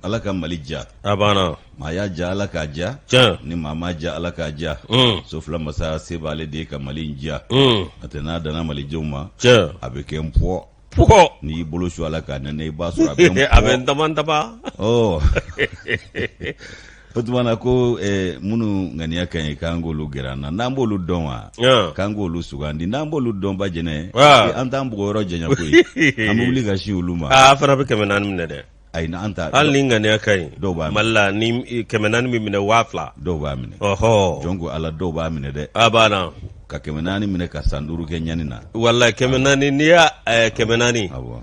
ala ka mali ja a banna maa y'a ja ala k'a ja ni maa m'a ja ala k'a ja so fila masa se b'ale de ye ka mali in ja a tɛ n'a danna malidenw ma a bɛ kɛ n pɔ pɔ n'i y'i bolo su a la k'a nɛnɛ i b'a sɔrɔ a bɛ n pɔ a bɛ n dama dama o tuma na ko eh, minnu ŋaniya ka ɲi k'an k'olu gɛrɛ an na n'an b'olu dɔn wa Yan. k'an k'olu sugandi n'an b'olu dɔn ba jɛnɛ Ah. eh, an t'an bugɔ yɔrɔ janya koyi an bɛ wuli ka sin olu ma aa fana bɛ kɛmɛ naani minɛ dɛ ayi na an ta hali ni ŋaniya ka ɲi Dɔw b'a minɛ. mali la ni i- kɛmɛ naani bɛ minɛ waa fila dɔw b'a minɛ ɔhɔ jɔn ko ala dɔw b'a minɛ dɛ a banna ka kɛmɛ naani minɛ ka san duuru kɛ ɲani na walayi kɛmɛ naani n'i y'a eh, kɛmɛ naani awɔ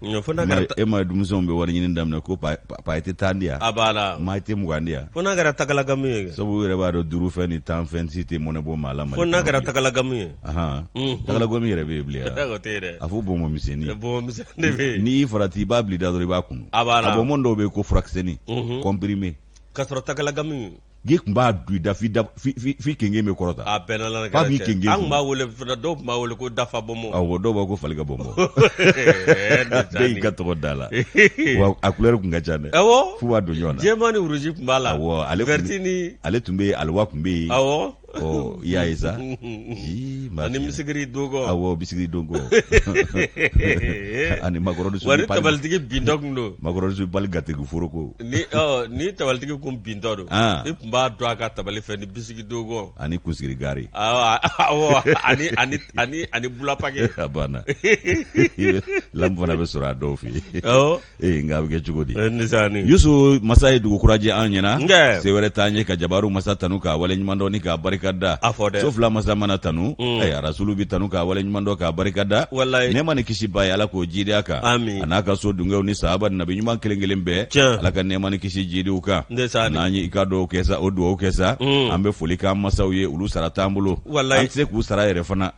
e ma denmisɛnw bɛ wari ɲini daminɛ ko pa i tɛ tan di yan a banna maa i tɛ mugan di yan fo n'a kɛra tagalagamu ye sabu yɛrɛ b'a dɔn duuru fɛn ni tan fɛn si tɛ mɔnɛ bɔ maa la fo n'a kɛra tagalagamu ye tagalagamu yɛrɛ bɛ yen bilen yan a fɔ bɔnbɔn misɛnnin bɔnbɔn misɛnnin bɛ yen n'i farati i b'a bila i da dɔrɔn i b'a kunu a banna a bɔnbɔn dɔw bɛ yen ko furakisɛnin comprimé ka sɔrɔ tagalagamu n'i tun b'a don i da f'i da f'i kenge bɛ kɔrɔta a bɛɛ n'ala k'a b'i kenge an tun b'a wele fana dɔw tun b'a wele ko dafa bɔnbɔn awɔ dɔw b'a ko fali ka bɔnbɔn bɛɛ y'i ka tɔgɔ d'a la wa a couleur tun ka ca dɛ awɔ f'u b'a don ɲɔgɔn na jɛman ni rouge tun b'a la awɔ ale vert ni ale tun bɛ yen aliwa tun bɛ yen awɔ ɔ i y'a ye sa Ii, maa ani fiɲɛ. misigiri dogo awɔ bisigiri dogo ani makɔrɔni wari sugu pali tabalitigi bintɔ kun don makɔrɔni sugu pali gatigi foroko ni ɔ ni tabalitigi kun bintɔ don Ah. i kun b'a dɔn a ka tabali fɛ ni bisigi dogo ani kunsigi gari awɔ awɔ ani ani ani ani bula paki a banna lamu fana bɛ sɔrɔ a dɔw fɛ yen awɔ ee nka a bɛ kɛ cogo di yusu masa ye dugu kura jɛ an ɲɛna se wɛrɛ t'an ye ka jabaru masa tanu k'a waleɲumandɔn ni k'a barikada so fila masa mana tanu mm. eh, arasulu bɛ tanu k'a waleɲumandɔn k'a barikada nɛɛma ni kisi b'a ye ala k'o jiidi a kan a n'a ka so dungew ni sahaba ni nabi ɲuman kelen kelen bɛɛ ala ka nɛɛma ni kisi jiidi u kan n'an ye i ka dɔw kɛ sa o dugawu kɛ sa mm. an bɛ foli k'an masaw ye olu sara t'an bolo an tɛ se k'u sara yɛrɛ fana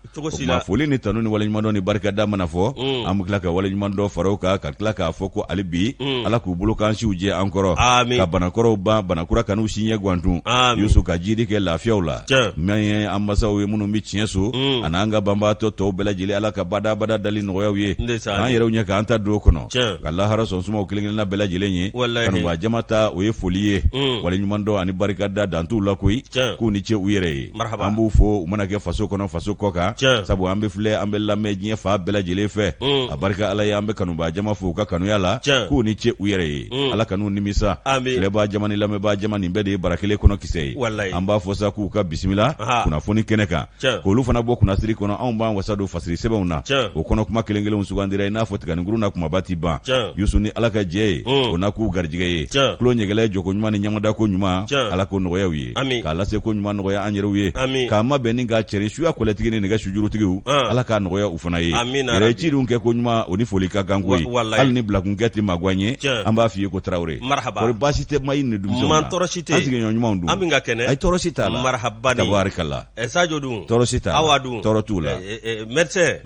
ma foli ni tanu ni waleɲumandɔn ni barika da mana fɔ mm. an bɛ tila ka waleɲumandɔ fara u kan ka tila k'a fɔ ko hali bi mm. ala k'u balo k'an siw jɛ an kɔrɔ ka banakɔrɔw ban banakura kan'u si ɲɛ gwantun yusu ka jiidi kɛ lafiyaw la n'an ye an masaw ye minnu bɛ tiɲɛ so mm. an'an ka banbaatɔ tɔw bɛɛ lajɛlen ala ka badabada dali nɔgɔya u ye k'an yɛrɛw ɲɛ k'an ta don kɔnɔ ka lahara so suma u kelen kelenna bɛɛ lajɛlen ye kanubaa jama ta o ye foli ye waleɲumandɔn ani barika da dan t'u la koyi k'u ni ce u yɛrɛ ye an b'u fo u mana kɛ faso kɔnɔ faso kɔ kan sabu an bɛ filɛ an bɛ lamɛn diɲɛ fan bɛɛ lajɛlen fɛ mm. a barika ala ye an bɛ kanubaa jama fo u ka kanuya la k'u ni ce u yɛrɛ ye mm. ala kan'u nimisa filɛbaa jama ni lamɛnbaa jama nin bɛɛ de ye bara kelen kɔnɔ kisɛ ye an b'a fɔ sa k'u ka bisimila kunnafoni kɛnɛ kan k'olu fana bɔ kunnasiri kɔnɔ anw b'an wasa don fasiri sɛbɛnw na o kɔnɔ kuma kelen kelenw sugandira i n'a fɔ tiganinkurun na kumaba tɛ ban yusu ni ala ka jɛ ye mm. o na k'u garijɛgɛ ye tulo ɲɛgɛlɛ jɔko ɲuman ni ɲɛmada ko ɲuman ala k'o nɔgɔya u ye ami k'a lase ko ɲuman nɔgɔya an yɛrɛw ye ami k'a mabɛn ni k'a cɛri suya kɔlɛtigi ni nɛgɛ sujurutigiw ah. ala k'a nɔgɔya u fana ye yɛrɛ ci dun kɛ ko ɲuman o ni foli ka kan koyi hali ni bilakunkɛ tɛ mago an ye an b'a f'i ye ko tarawele marhaba kɔri baasi tɛ mayi ni denmisɛnw na tɔɔrɔ si tɛ an sigiɲɔgɔn ɲumanw dun an bɛɛ ka kɛnɛ ayi tɔɔrɔ si t'a la marhaba ni tabarikala eh, sajo dun tɔɔrɔ si t'a la awa dun tɔɔrɔ t'u la eh, eh, médecin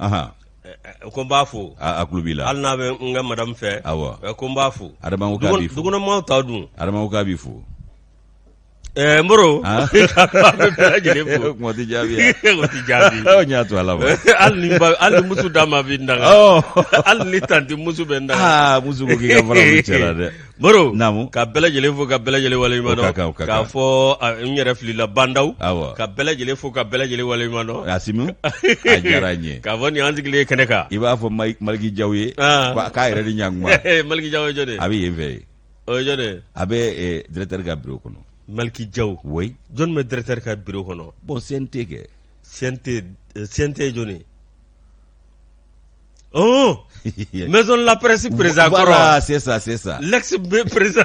ko n b'a fo a tulo b'i la hali n'a bɛ n ka madamu fɛ awɔ ko n b'a fo dugukɔnɔmaw ta dun adama ko k'a b'i fo Ɛɛ moro tɛ jaabi y'a to ala ma hali muso d'a ma bɛ da hali ni tanti muso bɛ da muso dɛ moro ka bɛɛ lajɛlen fo ka bɛɛ lajɛlen waleɲuman dɔn k'a fɔ n yɛrɛ filila banda ka bɛɛ lajɛlen fo ka bɛɛ lajɛlen waleɲuman dɔn a diyara n ye k'a fɔ nin y'an sigilen ye kɛnɛ kan i b'a fɔ maliki jaw ye k'a yɛrɛ ni ɲkuma maliki jaw a bɛ yen fɛ yen o ye jɔni ye a bɛ eh, directeur ka bureau kɔnɔ maliki jaw oui jɔni bɛ directeur ka bureau kɔnɔ bon CNT kɛ CNT eh, CNT ye jɔni ye ɔn maison de la presse président kɔrɔ voilà c'est ça c'est ça l'ex président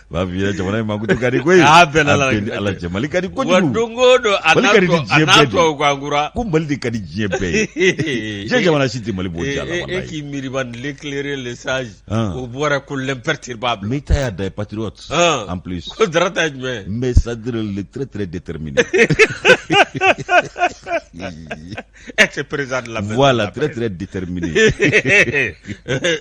b'a f'i ɲɛna jamana in mankutu ka di koyi Aa, bɛɛ la, a bɛ n ni ala cɛ mali ka di wa kojugu don o don a Mali n'a ka di ni tɔ- a diɲɛ n'a bɛɛ de. tɔw ko an kura ko mali de ka di diɲɛ bɛɛ ye diɲɛ jamana si tɛ mali bɔ Eh, diya la eh, eh, walayi k'i miiriba l'éclairé le sage Ah. o bɔra ko l'imperturbable mais i ta y'a da ye patriote Ah. en plus ko Dra ta ye jumɛn ye mais c'est-à-dire le très très déterminé Ex président de la maison. Voilà, très très déterminé.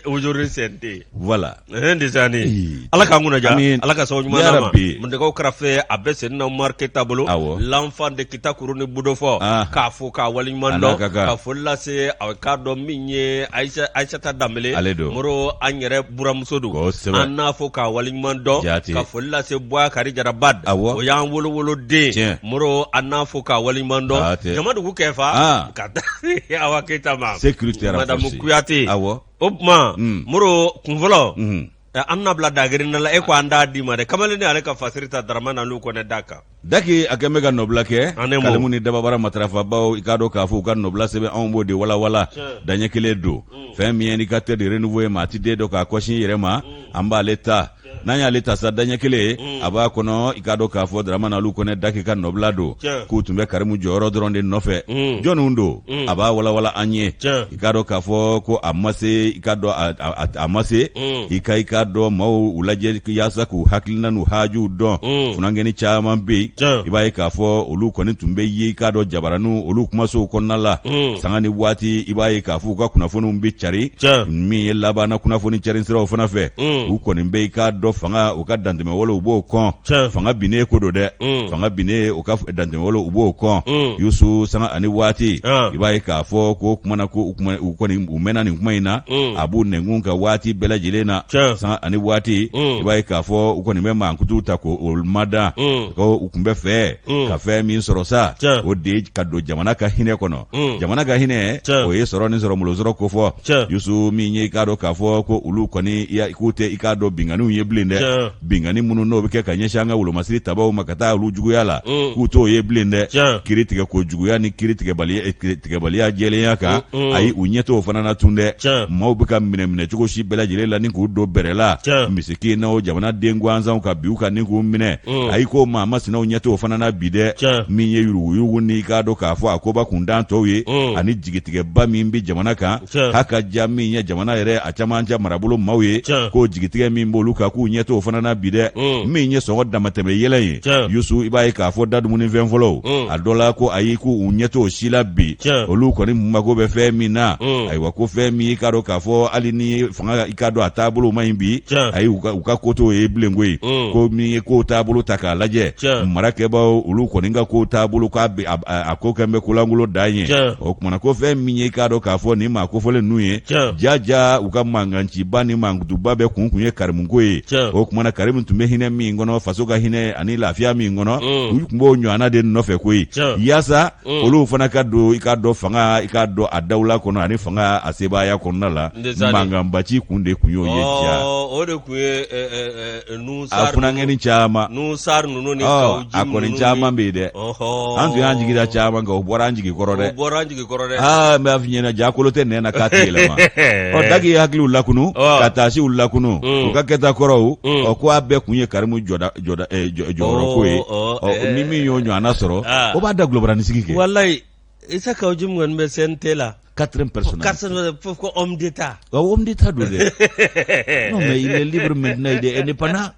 Aujourd'hui CNT. Voilà. Un des années. Ee, Ala k'an kunna diya. Amin. Ala ka sababu ɲuman Ya d'an ma. Rabbi. Mundekaw karafe a bɛ sen na Umar Keyita bolo. Awɔ. L'enfant de Kita kuru ni budofo. Ah. K'a fo k'a waleɲuman A n'a dɔn. ka kan. Ka foli lase a k'a dɔn min ye Aïcha- Aïssata Dembélé. Ale don. Moro an yɛrɛ buramuso don kosɛbɛ an n'a fo k'a waleɲuman dɔn Jaati. ka foli lase bɔya kari jaraba Awɔ. o y'an wolowoloden Tiɲɛ. moro an n'a fo k'a waleɲuman dɔn Jaati. jama dugu kɛfa Ah. ka taa awa keyita ma Sécurité renforcée. madamu kuyate Awɔ. o tuma Mm. moro kunfɔlɔ Mhm. ɛ, an n'a bila dagirina la e ko an d'a d'i ma dɛ kamalen ni ale ka fasiri ta daramani aliyu kɔnɛ da kan daki a kɛn bɛ ka nɔbila kɛ kalimu ni dababara matarafabaaw i k'a dɔn k'a fɔ u ka nɔbila sɛbɛn anw b'o de walawala daɲɛ kelen don mm. fɛn min ye l'indicateur du renouveau ye maa t'i den dɔ k'a kɔsin yɛrɛ ma mm. an b'ale ta n'an y'ale ta sa daɲɛ kelen mm. a b'a kɔnɔ i k'a dɔn k'a fɔ daramana alu kɔnɛ daki ka nɔbila don k'u tun bɛ karimu jɔyɔrɔ dɔrɔn de nɔfɛ jɔnw don a b'a walawala an ye i k'a dɔn k'a fɔ ko a ma se i k'a dɔn a ma se mm. i ka i k'a dɔn maaw u lajɛ yaasa k'u hakilina n'u hajuw dɔn mm. funankɛni caman bɛ yen i b'a ye k'a fɔ olu kɔni tun bɛ yen i k'a dɔn jabaraninw olu kumasow kɔnɔna la mm. sanga ni waati i b'a ye k'a fɔ u ka kunnafoniw bɛ carin min ye labanna kunnafoni carin siraw fana fɛ u kɔni bɛ i k'a dɔn fanga u ka dantɛmɛwalew u b'o kɔn fanga binnen ko don dɛ fanga binnen u ka dantɛmɛwalew u b'o kɔn mm. yusu sanga ani waati ah. i b'a ye k'a fɔ ko kuma na ko u kɔni u mɛnna nin kuma in na mm. a b'u nɛnkun kan waati bɛɛ lajɛlen na sanga ani waati mm. i b'a ye k'a fɔ u kɔni bɛ mankutu ta ko o mada ko u tun bɛ fɛ ka fɛn min sɔrɔ sa o de ka don jamana ka hinɛ kɔnɔ jamana ka hinɛ o ye sɔrɔ ni sɔrɔ molosɔrɔ ko fɔ yusu min ye i k'a dɔn k'a fɔ ko olu kɔni k'u tɛ i k'a dɔn binkanniw ye bilen dɛ binkanni minnu n'o bɛ kɛ ka ɲɛsin an ka wolomasiri tabaaw ma ka taa olu juguya la mm. k'u t'o ye bilen dɛ kiri tigɛ ko juguya ni kiri eh, tigɛbaliya jɛlenya kan mm, mm. ayi u ɲɛ t'o fana na tun dɛ maaw bɛ ka minɛminɛ cogo si bɛɛ lajɛlen la ni k'u don bɛrɛ la misikinaw jamanaden gansanw ka bin u kan ni k'u minɛ ayi ko maa masinaw ɲɛ t'o fana na bi dɛ min ye yuruguyurugu ni i k'a dɔn k'a fɔ a koba kundan tɔw ye ani jigitigɛba min bɛ jamana kan k'a ka diya min ye jamana yɛrɛ a cɛmancɛ marabolo maaw ye k'o jigitigɛ min b'olu kan k'u ɲɛ t'o fana na bi dɛ mm. min ye sɔngɔ damatɛmɛ yɛlɛn ye yusu i b'a ye k'a fɔ da dumunifɛn fɔlɔw mm. a dɔ la ko ayi k'u ɲɛ t'o si la bi olu kɔni mago bɛ fɛn min na mm. ayiwa ko fɛn min i k'a dɔn k'a fɔ hali ni fanga i k'a dɔn a taabolo man ɲi bi ayi u ka ko t'o ye bilen koyi ko min ye k'o taabolo ta k'a lajɛ mara kɛbaaw olu kɔni ka k'o taabolo k'a a ko kɛn bɛ kolankolon dan ye o tuma na ko fɛn min ye i k'a dɔn k'a fɔ nin maa kofɔlen ninnu ye ja jaa u ka mankanciba ni mankutuba bɛɛ kun kun ye karimuko ye o tuma na karimu tun bɛ hinɛ min kɔnɔ faso ka hinɛ ani lafiya min kɔnɔ mm. u tun b'o ɲɔgɔnna de nɔfɛ koyi yaasa mm. olu fana ka don i k'a dɔn fanga i k'a dɔn a dawula kɔnɔ ani fanga a sebaaya kɔnɔna la mankanbaci kun de tun y'o ye jaa oh, o de tun ye eh, eh, eh, a funankɛni caman a kɔni caman bɛ yen dɛ an tun y'an jigi da caman kan o bɔra an jigi kɔrɔ dɛ aa n b'a f'i ɲɛna jaa kolo tɛ nɛn na k'a tɛ yɛlɛma ɔ daki ye hakiliw lakunu ka taasiw lakunu u ka kɛta kɔrɔw ɔ ko a bɛɛ kun ye karimu jɔyɔrɔko ye ni min y'o ɲɔgɔnna sɔrɔ o b'a dagolo bara ni sigi kɛ i tɛ ka ji kɔni bɛ sen tɛ la ka pe komi de ta de ta don dɛ mɛlibri mɛd ye de e ni pan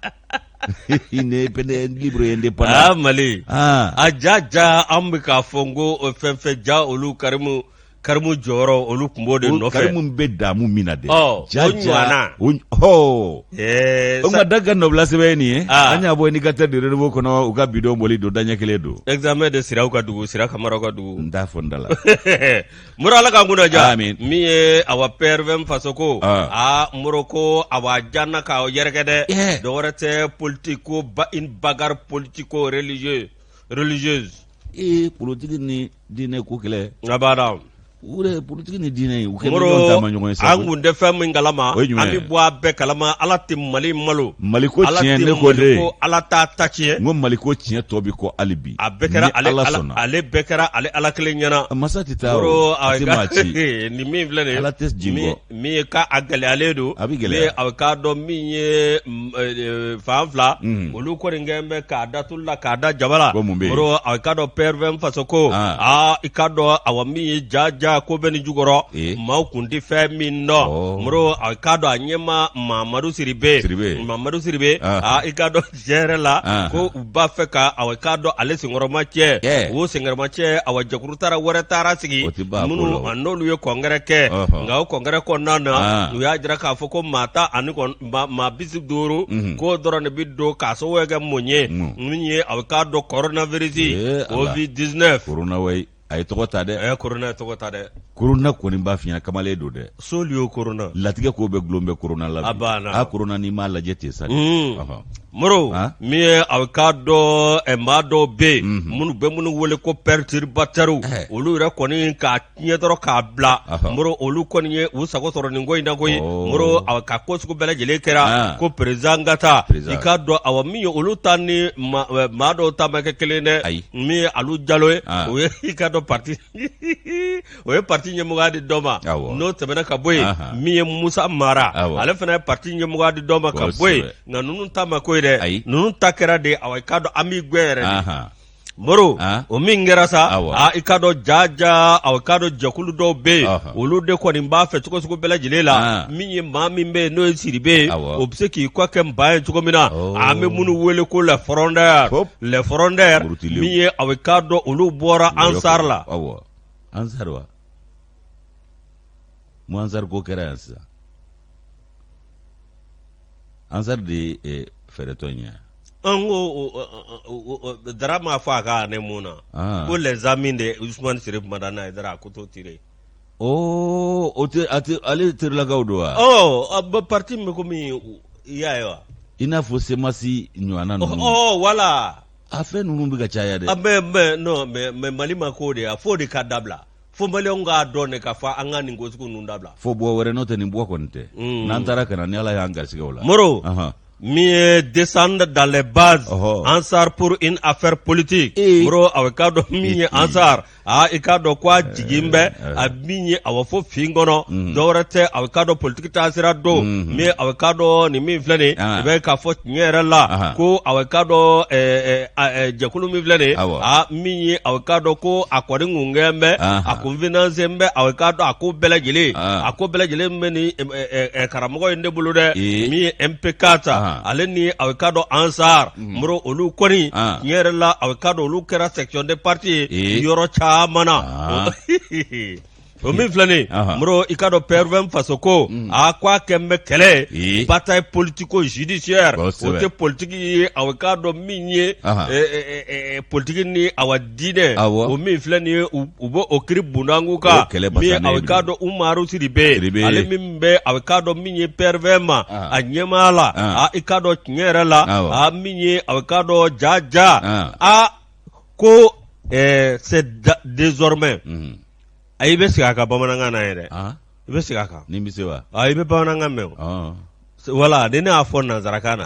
nelib de pan mali a ja ja an bɛ k'a fɔ n ko o fɛn fɛn ja olu karimu karimu jɔyɔrɔ olu tun b'o de nɔfɛ minnu bɛ damu min na de ja o hɔ Ɛɛ o ma da ka nɔbila sɛbɛn nin ye ah. an y'a bɔ indicateur du renouveau kɔnɔ u ka bi don bɔli don daɲɛ kelen don esame de siraw ka dugu sira kamaraw ka dugu n t'a fɔ n da la moro ala k'an kunna diya min ye awa PRVM faso ko aa ah. ah, moro ko awa janana ka yɛrɛkɛ dɛ dɔ wɛrɛ tɛ politico ba une bagarre politico religieux religieuse ee politiki ni diinɛ ko kɛlɛ abada u yɛrɛ politiki ni diinɛ ye u kɛ ɲɔgɔn taamaɲɔgɔn ye sa an koyi. kun tɛ fɛn min kalama O ye jumɛn an ye? bɛ bɔ a bɛɛ kalama ala tɛ mali malo Mali ko ala tiɲɛ tɛ ne ko de. Mali ko ala t'a ta tiɲɛ n ko mali ko tiɲɛ tɔ bi kɔ hali bi a bɛɛ kɛra ni ale ala ala sɔnna ale bɛɛ kɛra ale ala kelen ɲɛna masa tɛ taa o, Yɔrɔ, a a tɛ ka- maa ci nin min filɛ nin ye, Ala tɛ jigin min- kɔ. min ye ka a gɛlɛyalen don a bɛ gɛlɛya a k'a dɔn min ye mm, eh, eh, fan fila mm. olu kɔni kɛn bɛ k'a da tulu la k'a da jaba la moro a k'a dɔn PRVM faso ko ah. aa i k'a dɔn awa min ye ja ja ko bɛ nin jukɔrɔ eh. maaw kun tɛ fɛn min dɔn oh. moro a k'a dɔn a ɲɛma mamadu sidibe mamadu sidibe ah. aa i k'a dɔn jɛrɛ la Anhan. ko u b'a fɛ ka awa k'a dɔn ale senkɔrɔma cɛ Cɛ. o senkɔrɔma cɛ awa jɛkuru taara wɛrɛ taara sigi O ti ban a ko la minnu o. a n'olu ye congrès kɛ Ɔhɔ. nka o congrès kɔnɔna na An. u y'a jira k'a fɔ ko maa tan ani kɔn- maa- maa bi duuru Mhm. k'o dɔrɔn de bi don k'a sababu kɛ mun ye Mm. min ye aw k'a dɔn kɔrɔnavirisi Ee, Ala. covid 19 korona wayi a ye tɔgɔ ta dɛ a ye korona tɔgɔ ta dɛ korona kɔni b'a fiɲɛ kamalen don dɛ soli o korona latigɛ ko bɛ gulon bɛ korona la a banna a korona n'i m'a lajɛ ten sa mm. moro min ye a k'a dɔn eh, maa dɔw bɛ yen mhm. minnu bɛ minnu wele ko perturbateurs eh. olu yɛrɛ kɔni k'a tiɲɛ dɔrɔn k'a bila moro olu kɔni ye u sago sɔrɔ nin ko in na koyi oh. moro a ka ko sugu bɛɛ lajɛlen kɛra ah. ko peresidan ka taa i k'a dɔn awa min ye olu ta ni eh, maa dɔw ta ma kɛ kelen dɛ min ye alu jalo ye ah. o ye i k'a dɔn parti o ye parti ɲɛmɔgɔya di dɔ ma n'o tɛmɛna ka bɔ yen min ye musa mara ale fana ye parti ɲɛmɔgɔya di dɔ ma ka bɔ yen nka ninnu ta ma k'o ye dɛ ninnu ta kɛra de awa i k'a dɔn an b'i gɛn yɛrɛ de moro ah. o min kɛra sa a ah, i k'a dɔn jaja awa i k'a dɔn jɛkulu dɔw bɛ yen olu de kɔni b'a fɛ cogo sugu bɛɛ lajɛlen la ah. min ye maa min bɛ yen n'o ye sidibe ye o bɛ se k'i kɔ kɛ nba ye cogo min na oh. an bɛ minnu wele ko les frondeurs les frondeurs min ye a bɛ k'a dɔn olu bɔra ansari la ansari wa mun ansari ko kɛra yan sisan ansari de ye fɛɛrɛtɔ ye an ko dara ma fɔ a ka ne mun na ko les amis de usumani sirifu madani ayidara ko to tire Ɔ o tɛ ale terilakaw don wa ɔ parti même komi i y'a ye wa i n'a fɔ semasi ɲɔgɔnna ninnu wala a fɛn ninnu bɛ ka caya dɛ mais mali ma ko de a fo de ka dabila fo maliyɛnw k'a dɔn de k'a fɔ an ka nin ko sugu ninnu dabila fo bɔ wɛrɛ n'o tɛ nin bɔ kɔni tɛ n'an taara ka na ni ala y'an garisigɛ o la moro min ye descendre dans les bases ansar pour une affaire politique moro a bɛ k'a dɔn min ye ansar aa i k'a dɔn ko a jigin bɛ a min ye a bɛ fɔ fin kɔnɔ dɔwɛrɛ tɛ a bɛ k'a dɔn politiki taasira don min a bɛ k'a dɔn nin min filɛ nin i bɛ k'a fɔ tiɲɛ yɛrɛ la ko a bɛ k'a dɔn jɛkulu min filɛ nin a min ye a bɛ k'a dɔn ko a kɔni kun gɛn bɛ a kun finance bɛ a bɛ k'a dɔn a ko bɛɛ lajɛlen a ko bɛɛ lajɛlen bɛ nin karamɔgɔ in de bolo dɛ min ye MPK ta ale ni a bɛ k'a dɔn ANSAR Mm. moro olu kɔni ah. tiɲɛ yɛrɛ la a k'a dɔn olu kɛra section de parti ye eh. yɔrɔ caman na ah. o min filɛ nin moro i k'a dɔn prvm faso ko mm. a ko a kɛn bɛ kɛlɛ eh. bataille politico judiciaire o tɛ politiki ye a k'a dɔn min ye eh, politiki ni awa diinɛ o min filɛ nin ye u bɛ o kiri bunda ko kan min a bɛ k'a dɔn umaru sidibe ale min bɛ a bɛ k'a dɔn min ye prvm a ɲɛmaa la i k'a dɔn tiɲɛ yɛrɛ la a min ye a bɛ k'a dɔn ja ja aa ko désormais a i bɛ segin a kan bamanankan na yɛrɛ i bɛ segin a kan i bɛ bamanankan mɛn wala ni ne y'a fɔ nansarakan na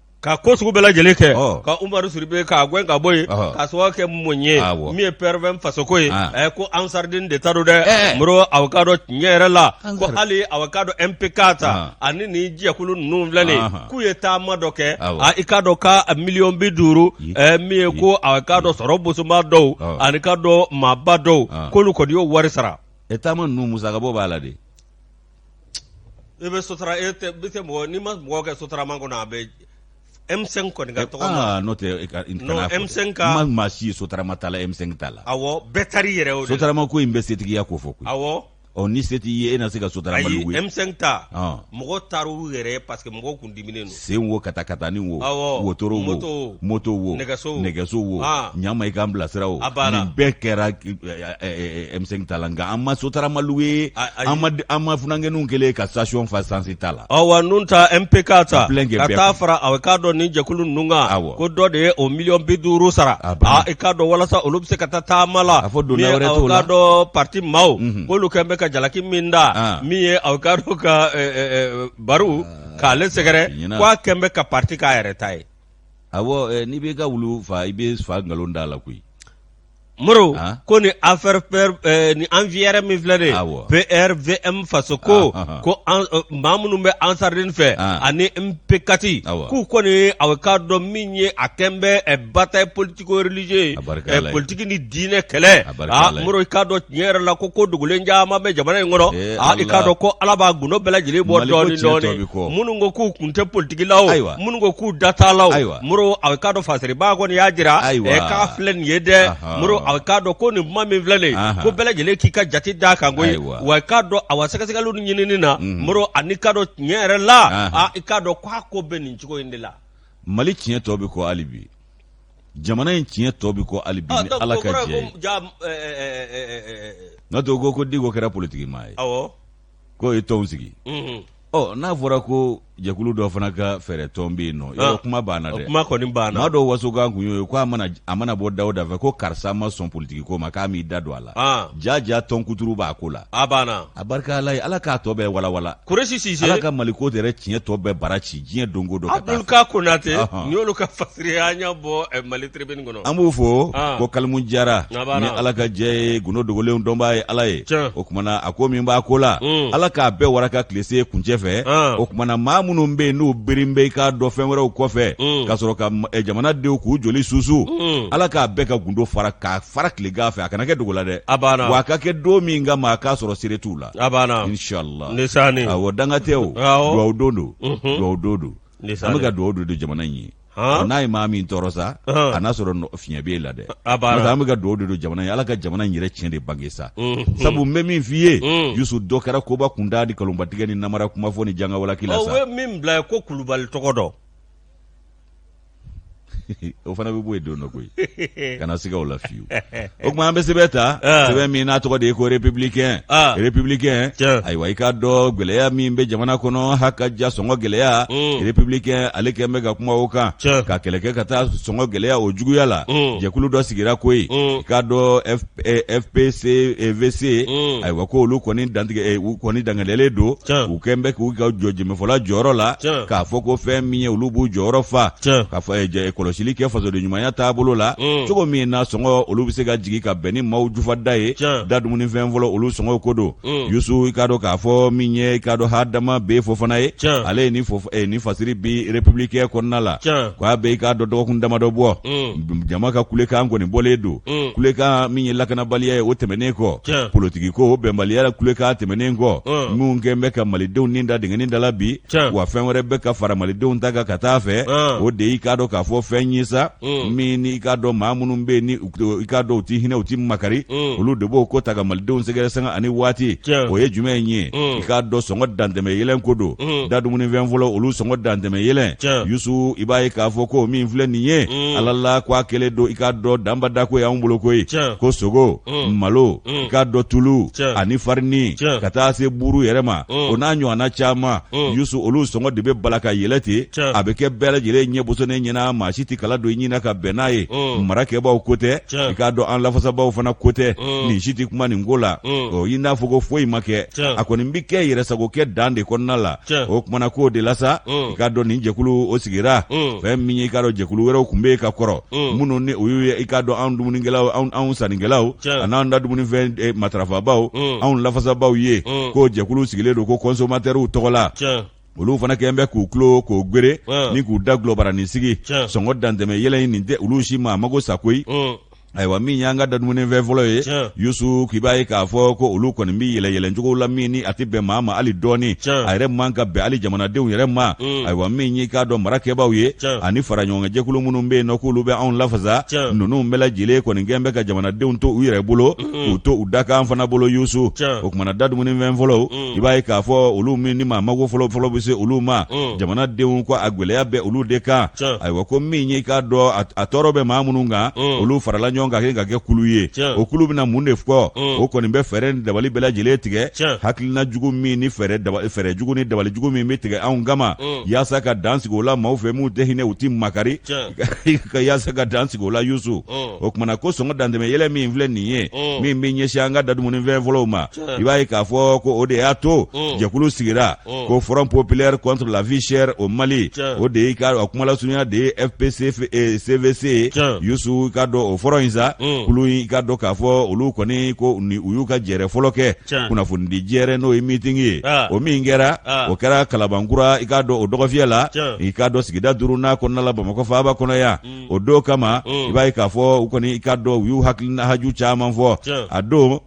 Ka ko sugu bɛɛ lajɛlen kɛ ka Umaru Sidibe k'a gɛn ka bɔ yen k'a sababu kɛ mun ye min ye PRVM fasoko ye ko Ansarudini de ta don dɛ Moro a k'a dɔn tiɲɛ yɛrɛ la ko hali a k'a dɔn MPK ta ani nin jɛkulu ninnu filɛ nin ye k'u ye taama dɔ kɛ i k'a dɔn ka miliyɔn bi duuru min ye ko a k'a dɔn sɔrɔ bosoba dɔw ani k'a dɔn maaba dɔw k'olu kɔni y'o wari sara taama ninnu musakabɔ b'a la dɛ I bɛ sotara i tɛ mɔgɔ n'i ma mɔgɔ kɛ sotarama kɔnɔ a bɛ M5 kɔni ka tɔgɔ ma n'o tɛ M5 ka maa si sotarama ta la M5 ta la u bɛɛ taar'u yɛrɛ o sotarama ko in bɛ setigiya kofɔ koyi awɔ ni se t'i ye e na se ka sotarama luwe M5 ta mɔgɔ taar'u yɛrɛ parce que mɔgɔ kun di sen wo katakatani wo wotoro wo moto wo nɛgɛso wo ɲama i k'an bilasira o nin bɛɛ kɛra M5 ta la nka an ma sotaramalu ye an ma funankɛninw kɛlen ka station fa sansi ta la awa nun ta MP4 ta ka taa fara aw k'a dɔn nin jɛkulu ninnu kan ko dɔ de ye o miliyɔn bi duuru sara i k'a dɔn walasa olu bɛ se ka taa taama la a fɔ donna wɛrɛ t'o la k'a dɔn parti maaw k'olu kɛn bɛ ka jalaki min da min ye aw k'a dɔn ka baro k'ale sɛgɛrɛ ko a kɛlen bɛ ka parti k'a yɛrɛ ta ye, awɔ, n'i bɛ i ka wulu faa i bɛ fa nkalon d'a la koyi, Moro, ko nin affaire nin yɛrɛ min filɛ nin ye, awɔ, PRVM Fasoko, ɔnhɔn, ko maa minnu bɛ Ansarudini fɛ ani MP4 k'u kɔni ye a k'a dɔn min ye a kɛlen bɛ bataille politico religieuse politigi ni diinɛ kɛlɛ moro i k'a dɔn tiɲɛ yɛrɛ la ko ko dogolen caman bɛ jamana in kɔnɔ i k'a dɔn ko ala b'a gundo bɛɛ lajɛlen bɔ dɔɔnin minnu ko k'u kun tɛ politigi la wo minnu ko k'u da t'a la moro a k'a dɔn fasiribaa kɔni y'a jira k'a filɛ nin ye dɛ moro a k'a dɔn ko nin kuma min filɛ nin ko bɛɛ lajɛlen k'i ka jate d'a kan koyi wa k'a dɔn a wa sɛgɛsɛgɛli ni ɲinini na moro ani k'a dɔn tiɲɛ yɛrɛ la i k'a dɔn k'a ko bɛ nin cogo in de la mali tiɲɛ tɔ bɛ kɔ hali bi jamana in tiɲɛ tɔ bɛ kɔ hali bi ah, ni ala ka jɛ ye n'a to ko ko diko kɛra politiki maa ye k'o ye tɔnw sigi mhm. ɔ n'a fɔra ko jɛkulu dɔ fana ka fɛɛrɛ tɔn bɛ yen nɔ yɔrɔ ah, kuma banna dɛ kuma kɔni banna maa dɔw wasokan kun y'o ye ko a mana a mana bɔ da o da fɛ ko karisa ma sɔn politiki ko ma k'a m'i da don a la ah. ja ja tɔn kuturu b'a ko la a banna a barika ala ye ala k'a tɔ bɛɛ walawala kuresi sise ala ka mali ko yɛrɛ tiɲɛ tɔ bɛɛ bara ci diɲɛ donko don ka taa abdul k. konate nin y'olu ka fasiriya an y'a bɔ eh, mali tribune kɔnɔ an b'u fo ah. ko kalimu jara ni ala ka jɛ ye gundo dogolenw dɔnbaa ye ala ye o kumana a ko min b'a ko la hmm. ala k'a bɛɛ waraka tile se kuncɛ fɛ ah. o kumana maa minnu bɛ yen n'u birin bɛ i k'a dɔn fɛn wɛrɛw kɔfɛ hmm. ka sɔrɔ ka eh, jamanadenw k'u joli susu hmm. ala k'a bɛɛ ka gundo fara k'a fara tilegan fɛ a kana kɛ dogo la dɛ a banna wa a ka kɛ don min kama a k'a sɔrɔ sere t'u la a banna inshallah ne sani awɔ danga tɛ o duwawu don don mhm. duwawu don don an bɛ ka duwawu don don jamana in ye n'a ye maa min tɔɔrɔ sa a n'a sɔrɔ fiɲɛ b'e la dɛ an bɛ ka duwawu de don jamana ye ala ka jamana in yɛrɛ tiɲɛ de bange sa mhm. sabu n bɛ min f'i ye mhm. yusu dɔ kɛra koba kunda ni nkalonbatigɛ ni namara kuma fɔ ni jangawalaki la sa o ye min bila ko kulubali tɔgɔ dɔn o fana bɛ bɔ yen don dɔ koyi kana siga o la fiyewu o tuma an bɛ sɛbɛn ta ah. sɛbɛn min n'a tɔgɔ de ye ko républicain ah. républicain ayiwa i k'a dɔn gɛlɛya min bɛ jamana kɔnɔ hakaja sɔngɔ gɛlɛya mm. républicain ale kɛn bɛ ka kuma o kan ka kɛlɛ kɛ ka taa sɔngɔ gɛlɛya o juguya la mm. jɛkulu dɔ sigira koyi mm. i k'a dɔn fpc vc mm. ayiwa ko olu kɔni dangadɛlen don u kɛn bɛ k'u ka jɔ jɛmɛfɔla jɔyɔrɔ la k'a fɔ ko fɛn min ye olu b'u jɔyɔrɔ fa ka kɔlɔsili kɛ fasoden ɲumanya taabolo la mm. cogo min na sɔngɔ olu bɛ se ka jigin ka bɛn ni maaw jufada ye da dumunifɛn fɔlɔ olu sɔngɔw ko don mm. yusu i k'a dɔn k'a fɔ min ye i k'a dɔn hadama b fofana ye ale ye nin fasiri bi républicain kɔnɔna la k'a bɛ i k'a dɔn dɔgɔkun damadɔ bɔ jama ka kulekan kɔni bɔlen don Mm. kulekan min ye lakanabaliya ye o tɛmɛnen kɔ politiki ko o bɛnbaliya kulekan tɛmɛnen kɔ mm. minnu kɛn bɛ ka malidenw ni da dingɛnin da la bi wa fɛn wɛrɛ bɛ ka fara malidenw ta kan ka taa fɛ mm. o de y'i k'a dɔn k'a fɔ fɛn ye sa min n'i k'a dɔn maa minnu bɛ ni i k'a dɔn u ti hinɛ u ti makari olu de b'o ko ta ka malidenw sɛgɛrɛ sanga ani waati o ye jumɛn ye i k'a dɔn sɔngɔ dantɛmɛ yɛlɛn ko don Mm. da dumunifɛn fɔlɔ olu sɔngɔ dantɛmɛ yɛlɛn yusu i b'a ye k'a fɔ ko min filɛ nin ye mm. ala la ko a kɛlen don i k'a dɔn danbada ko y'anw bolo koyi ko sogo mm. malo i k'a dɔn tulu ani farini ka taa se buuru yɛrɛ ma o n'a ɲɔgɔnna caman yusu olu sɔngɔ de bɛ bala ka yɛlɛ ten a bɛ kɛ bɛɛ lajɛlen ɲɛ bosonnen ɲɛna maa si ti kala don i ɲin na ka bɛn n'a ye marakɛbaaw ko tɛ i k'a dɔn an lafasabaaw fana ko tɛ nin si ti kuma nin ko la i n'a fɔ ko foyi ma kɛ a kɔni bi kɛ yɛrɛsagokɛ dan de kɔnɔna la o kumana k'o de la sa i k'a dɔn nin jɛkulu o sigira fɛn min ye i k'a dɔn jɛkulu wɛrɛw kun bɛ yen ka kɔrɔ minnu ni o y'u ye i k'a dɔn anw dumunikɛlaw anw sannikɛlaw an'an da dumunifɛn eh, matarafabaaw anw lafasabaaw ye k'o jɛkulu sigilen don ko kɔnsomatɛriw tɔgɔ la olu fana kɛn bɛ k'u tulo kɔ gberenin k'u dagolo baranin sigi sɔngɔ dantɛmɛ yɛlɛ in nin tɛ olu si ma mago sa koyi ayiwa min y'an ka dadumunifɛn fɔlɔ ye yusu k'i b'a ye k'a fɔ ko olu kɔni bɛ yɛlɛ yɛlɛncogo la min ni a tɛ bɛn maa ma hali dɔɔni a yɛrɛ man ka bɛn hali jamanadenw yɛrɛ ma mm. ayiwa min y'i k'a dɔn marakɛbaaw ye ani faraɲɔgɔnkanjɛkulu minnu bɛ yen n'o k'olu bɛ anw lafasa ninnu bɛɛ lajɛlen kɔni kɛn bɛ ka jamanadenw to u yɛrɛ bolo mm. k'u to u dakan fana bolo yusu o kumana dadumunifɛn fɔlɔ mm. i b'a ye k'a fɔ olu min ni maa mago fɔlɔ fɔlɔ bɛ se olu ma jamanadenw ko a gɛlɛya bɛ olu de kan ayiwa ko min y'i k'a dɔn a tɔɔrɔ bɛ maa minnu kan olu farala ɲɔgɔn kan ka kɛ kulu ye o kulu bɛna mun de fɔ o kɔni bɛ fɛɛrɛ ni dabali bɛɛ lajɛlen tigɛ hakilina jugu min ni fɛɛrɛ jugu ni dabali jugu min bɛ tigɛ anw kama yaasa ka dan sigi o la maaw fɛ minnu tɛ hinɛ u tɛ makari ka yaasa ka dan sigi o la yusu o kumana ko sɔngɔ dantɛmɛ yɛlɛ min filɛ nin ye min bɛ ɲɛsin an ka dadumuni fɛn fɔlɔw ma i b'a ye k'a fɔ ko o de y'a to mm. jɛkulu sigira mm. ko front populaire contre la vie chère au mali o de y'i ka a kumalasurunya de ye fpc cvc eh, yusu i k'a dɔn o front in sa mm. kulu i k'a dɔn k'a fɔ olu kɔni ko ni u y'u ka jɛrɛ fɔlɔ kɛ kunnafonidi jɛrɛ n'o ye meeting ye ah. o min kɛra ah. o kɛra kalabankura i k'a dɔn o dɔgɔfiyɛ la i k'a dɔn sigida duurunan kɔnɔna la bamakɔ faaba kɔnɔ yan o don kama i b'a ye k'a fɔ u kɔni i k'a dɔn u y'u hakilina haju caman fɔ a don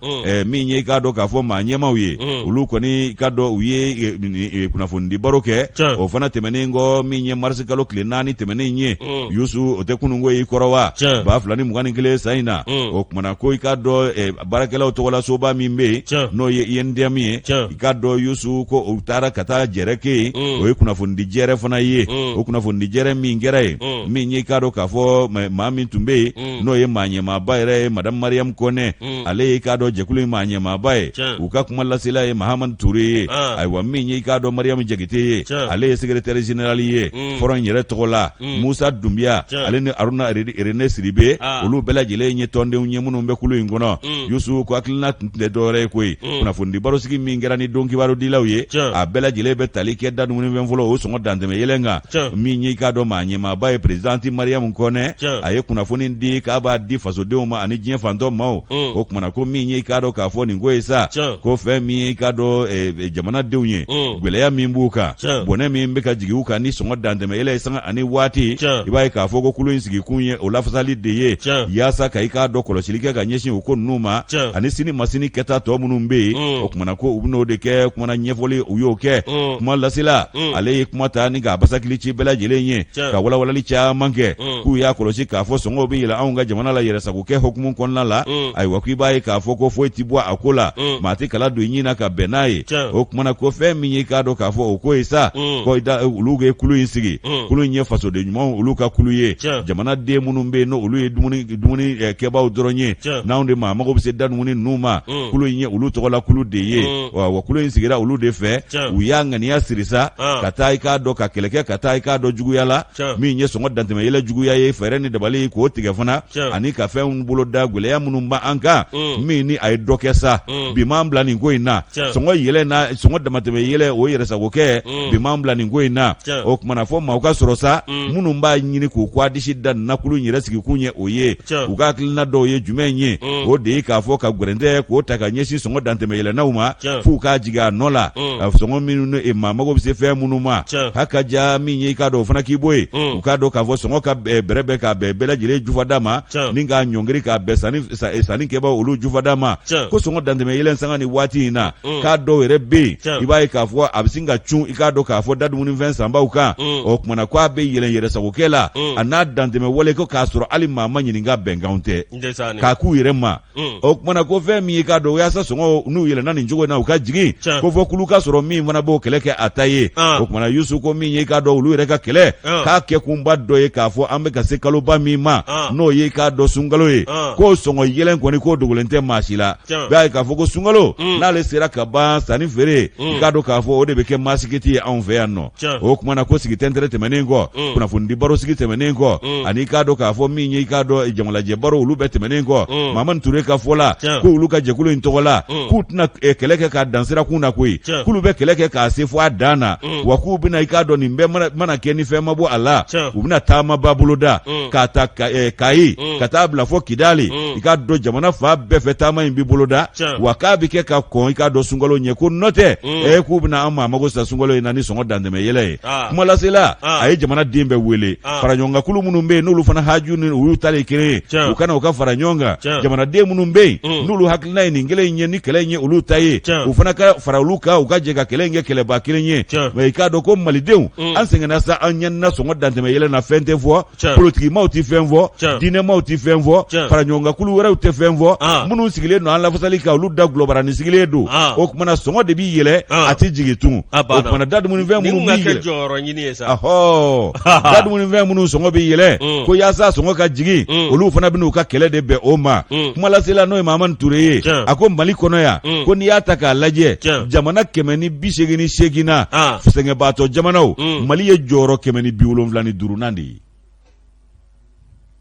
min ye i k'a dɔn k'a fɔ maa ɲɛmaw ye olu kɔni i k'a dɔn u ye kunnafonidi baro kɛ o fana tɛmɛnen kɔ min ye marisi kalo tile naani tɛmɛnen ye yusu o tɛ kununko y'i kɔrɔ wa ba fila ni mugan ni kelen san in na o kumana ko i k'a dɔn baarakɛlaw tɔgɔla soba min bɛ yen n'o ye UNTM ye i k'a dɔn Yusu ko u taara ka taa jɛrɛ kɛ yen mm. o ye kunnafonidi jɛrɛ fana ye mm. o kunnafonidi jɛrɛ min kɛra yen mm. min ye i k'a dɔn k'a fɔ maa min tun bɛ yen n'o ye maa ɲɛmaaba yɛrɛ ye Madame Mariam Kɔnɛ ale ye i k'a dɔn jɛkulu in maa ɲɛmaaba ye u ka kuma lasela ye Mahamadu Ture ye ah. ayiwa min ye i k'a dɔn Mariam Jakite ye ale ye secrétaire général ye front yɛrɛ tɔgɔ la mm. musa dunbiya ale ni aruna rene siribe ah. olu bɛɛ lajɛlen ye tɔndenw ye minnu bɛ kulu in kɔnɔ mm. yusu ko hakilina tun tɛ dɔwɛrɛ ye koyi mm. kunnafonidi barosigi min kɛra ni don kibarudilaw ye a bɛɛ lajɛlen bɛ tali kɛ da dumunifɛn fɔlɔ o sɔngɔ dantɛmɛ yɛlɛn kan min ye i k'a dɔn maa ɲɛmaaba ye perezidante mariyamu kɔnɛ a ye kunnafoni di k'a b'a di fasodenw ma ani diɲɛ fantɔ maaw o kumana ko min ye i k'a dɔn k'a fɔ nin ko ye sa ko fɛn min ye i k'a dɔn eh, jamanadenw ye gwɛlɛya min b'u kan bɔnɛ min bɛ ka jigin u kan ni sɔngɔ dantɛmɛ mɛ yɛlɛ sanga ani waati i b'a ye k'a fɔ ko kulu in sigikun ye o lafasali de ye yaasa ka i k'a dɔn kɔlɔsili kɛ ka ɲɛsin o ko ninnu ma ani sini masini kɛta tɔ minnu bɛ yen mm. o kumana ko u bɛn'o de kɛ kumana ɲɛfɔli u y'o kɛ mm. kuma lasela mm. ale ye kuma ta ni k'a basakili ci bɛɛ lajɛlen ye ka walawalali caman kɛ k'u y'a kɔlɔsi k'a fɔ sɔngɔw bɛ yɛlɛ anw ka jamana la yɛrɛsago kɛ hukumu kɔnɔna la mm. ayiwa ko i b'a ye k'a fɔ ko foyi ti bɔ a ko la mm. maa tɛ kala don ɲin na ka bɛn n'a ye o kumana ko fɛn min ye k'a dɔn k'a fɔ o ko ye sa mm. ko olu ye kulu in sigi kulu in ye fasoden ɲumanw olu ka kulu ye jamanaden minnu bɛ yen n'o olu ye dumuni dumuni eh, kɛbaaw dɔrɔn ye n'anw de maa mago bɛ se da dumuni ninnu ma kulu in ye olu tɔgɔla kulu de ye wa kulu in sigira olu de fɛ u y'a ŋaniya siri sa ah. ka taa i k'a dɔn ka kɛlɛ kɛ ka taa i k'a dɔn juguya la min ye sɔngɔ dantɛmɛ yɛlɛ juguya ye fɛɛrɛ ni dabali k'o tigɛ fana ani ka fɛnw bolo da gwɛlɛya minnu b' an kan mm. min ni a ye dɔ kɛ sa mm. bi m'an bila nin ko in na sɔngɔ yɛlɛ na sɔngɔ damatɛmɛ yɛlɛ o yɛrɛsago kɛ mm. bi m'an bila nin ko in na o kumana fɔ maaw ka sɔrɔ sa minnu b'a ɲini k'u kɔ disi da na kulu in yɛrɛ sigikun ye o ye u ka hakilina dɔw ye jumɛn ye o de ye k'a fɔ ka gwɛrɛntɛ k'o ta ka ɲɛsin sɔngɔ dantɛmɛ yɛlɛnnaw ma f'u k'a jigin a nɔ la a sɔngɔ minnu ne e maa mago bɛ se fɛn minnu ma ha ka ja min ye i k'a dɔn o fana k'i bɔ yen u k'a dɔn k'a fɔ sɔngɔ ka bɛrɛbɛn k'a bɛn bɛɛ lajɛlen jufada ma ni k'a ɲɔngiri k'a bɛn sanni e, sanni kɛbaaw olu jufada ma ko sɔngɔ dantɛmɛ yɛlɛn sanga ni waati in na k'a dɔw yɛrɛ bɛ yen i b'a ye k'a fɔ a bɛ sin ka cun i k'a dɔn k'a fɔ da dumunifɛn sanbaw kan o kumana ko a bɛ yɛlɛn yɛrɛsagokɛ la a n'a dantɛmɛ wale ko k'a sɔrɔ hali maa ma ɲininka bɛnkanw tɛ k'a k'u yɛrɛ ma Mm. o kumana ko fɛn min y'i k'a dɔn yaasa sɔngɔ n'u yɛlɛna nin cogo in na u ka jigin Tiɲɛ. ko fɔ kulu ka sɔrɔ min fana b'o kɛlɛ kɛ a ta ye Ah. o kumana yusu ko min y'i k'a dɔn olu yɛrɛ ka kɛlɛ Ah. k'a kɛkunba dɔ ye k'a fɔ an bɛ ka se kaloba min ma Ah. n'o y'i k'a dɔn sunkalo ye Ah. k'o sɔngɔ yɛlɛn kɔni k'o dogolen tɛ maa si la Tiɲɛ. b'a ye k'a fɔ ko sunkalo Mm. n'ale sera ka ban sanni feere Mm. i k'a dɔn k'a fɔ o de bɛ kɛ maasikiti ye anw fɛ yan nɔ o kuma na ko sigi tɛntɛrɛ tɛmɛnen kɔ mm. kunnafonidi baro sigi tɛmɛnen kɔ mm. ani i k'a dɔn k'a fɔ min ye i k'a dɔn jamalajɛ baro olu bɛɛ tɛmɛnen kɔ mm. mamani ture ka fɔ la ko olu ka jɛkulu in tɔgɔ la k'u tɛna eh, kɛlɛ kɛ k'a dan sirakun na koyi k'olu bɛ kɛlɛ kɛ k'a se fɔ a dan na wa k'u bɛna i k'a dɔn nin bɛɛ mana kɛ ni fɛn ma bɔ a la u bɛna taamaba boloda k'a ta eh, kayi ka taa bila fɔ kidali i k'a dɔn jamana fan bɛɛ fɛ taama in bɛ boloda wa k'a bɛ kɛ ka kɔn i k'a dɔn sunkalo ɲɛ ko n'o tɛ mm. e k'u bɛna an maa mago sa sunkalo in na ni sɔngɔ dantɛmɛ yɛlɛ ye ah. kumalasela ah. a ye jamanaden bɛɛ wele ah. fara ɲɔgɔn kan kulu minnu bɛ yen n'olu fana haju ni olu ta de kelen ye u ka na u ka fara ɲɔgɔn kan jamanaden minnu bɛ yen mm. n'olu hakilina ye nin kelen in ye ni kɛlɛ in ye olu ta ye u fana ka fara olu kan u ka jɛ ka kɛlɛ in kɛ kɛlɛba kelen ye mais i k'a dɔn ko malidenw mm. an sɛgɛnna sa an ɲanina sɔngɔ dantɛmɛ yɛlɛ na fɛn tɛ fɔ Tiɲɛ. politikimaw tɛ fɛn fɔ Tiɲɛ. diinɛmaw tɛ fɛn fɔ Tiɲɛ. faraɲɔgɔnkankulu wɛrɛw tɛ fɛn fɔ Ah. minnu sigilen don an lafasali kan olu da gulɔbarani sigilen don Ah. o kumana sɔngɔ de bɛ yɛlɛ Ah. a tɛ jigin tugun A o banna. kumana da dumunifɛn Nin minnu kun ka bɛ kɛ yɛlɛ jɔyɔrɔ ɲini ye sa. ahɔ da dumunifɛn minnu sɔngɔ bɛ yɛlɛ Mm. ko yaasa sɔngɔ ka jigin Mm. olu fana bɛna u ka kɛlɛ de bɛn o ma Mm. kumalasela n'o ye mamani ture ye Tiɲɛ. a ko mali kɔnɔ yan Mm. ko n'i y'a ta k'a lajɛ Tiɲɛ. jamana kɛmɛ ni bi seegin ni seegin na Ah. sɛgɛnbaatɔ jamanaw Mm. mali ye jɔyɔrɔ kɛmɛ ni bi wolonwula ni duuru nan de ye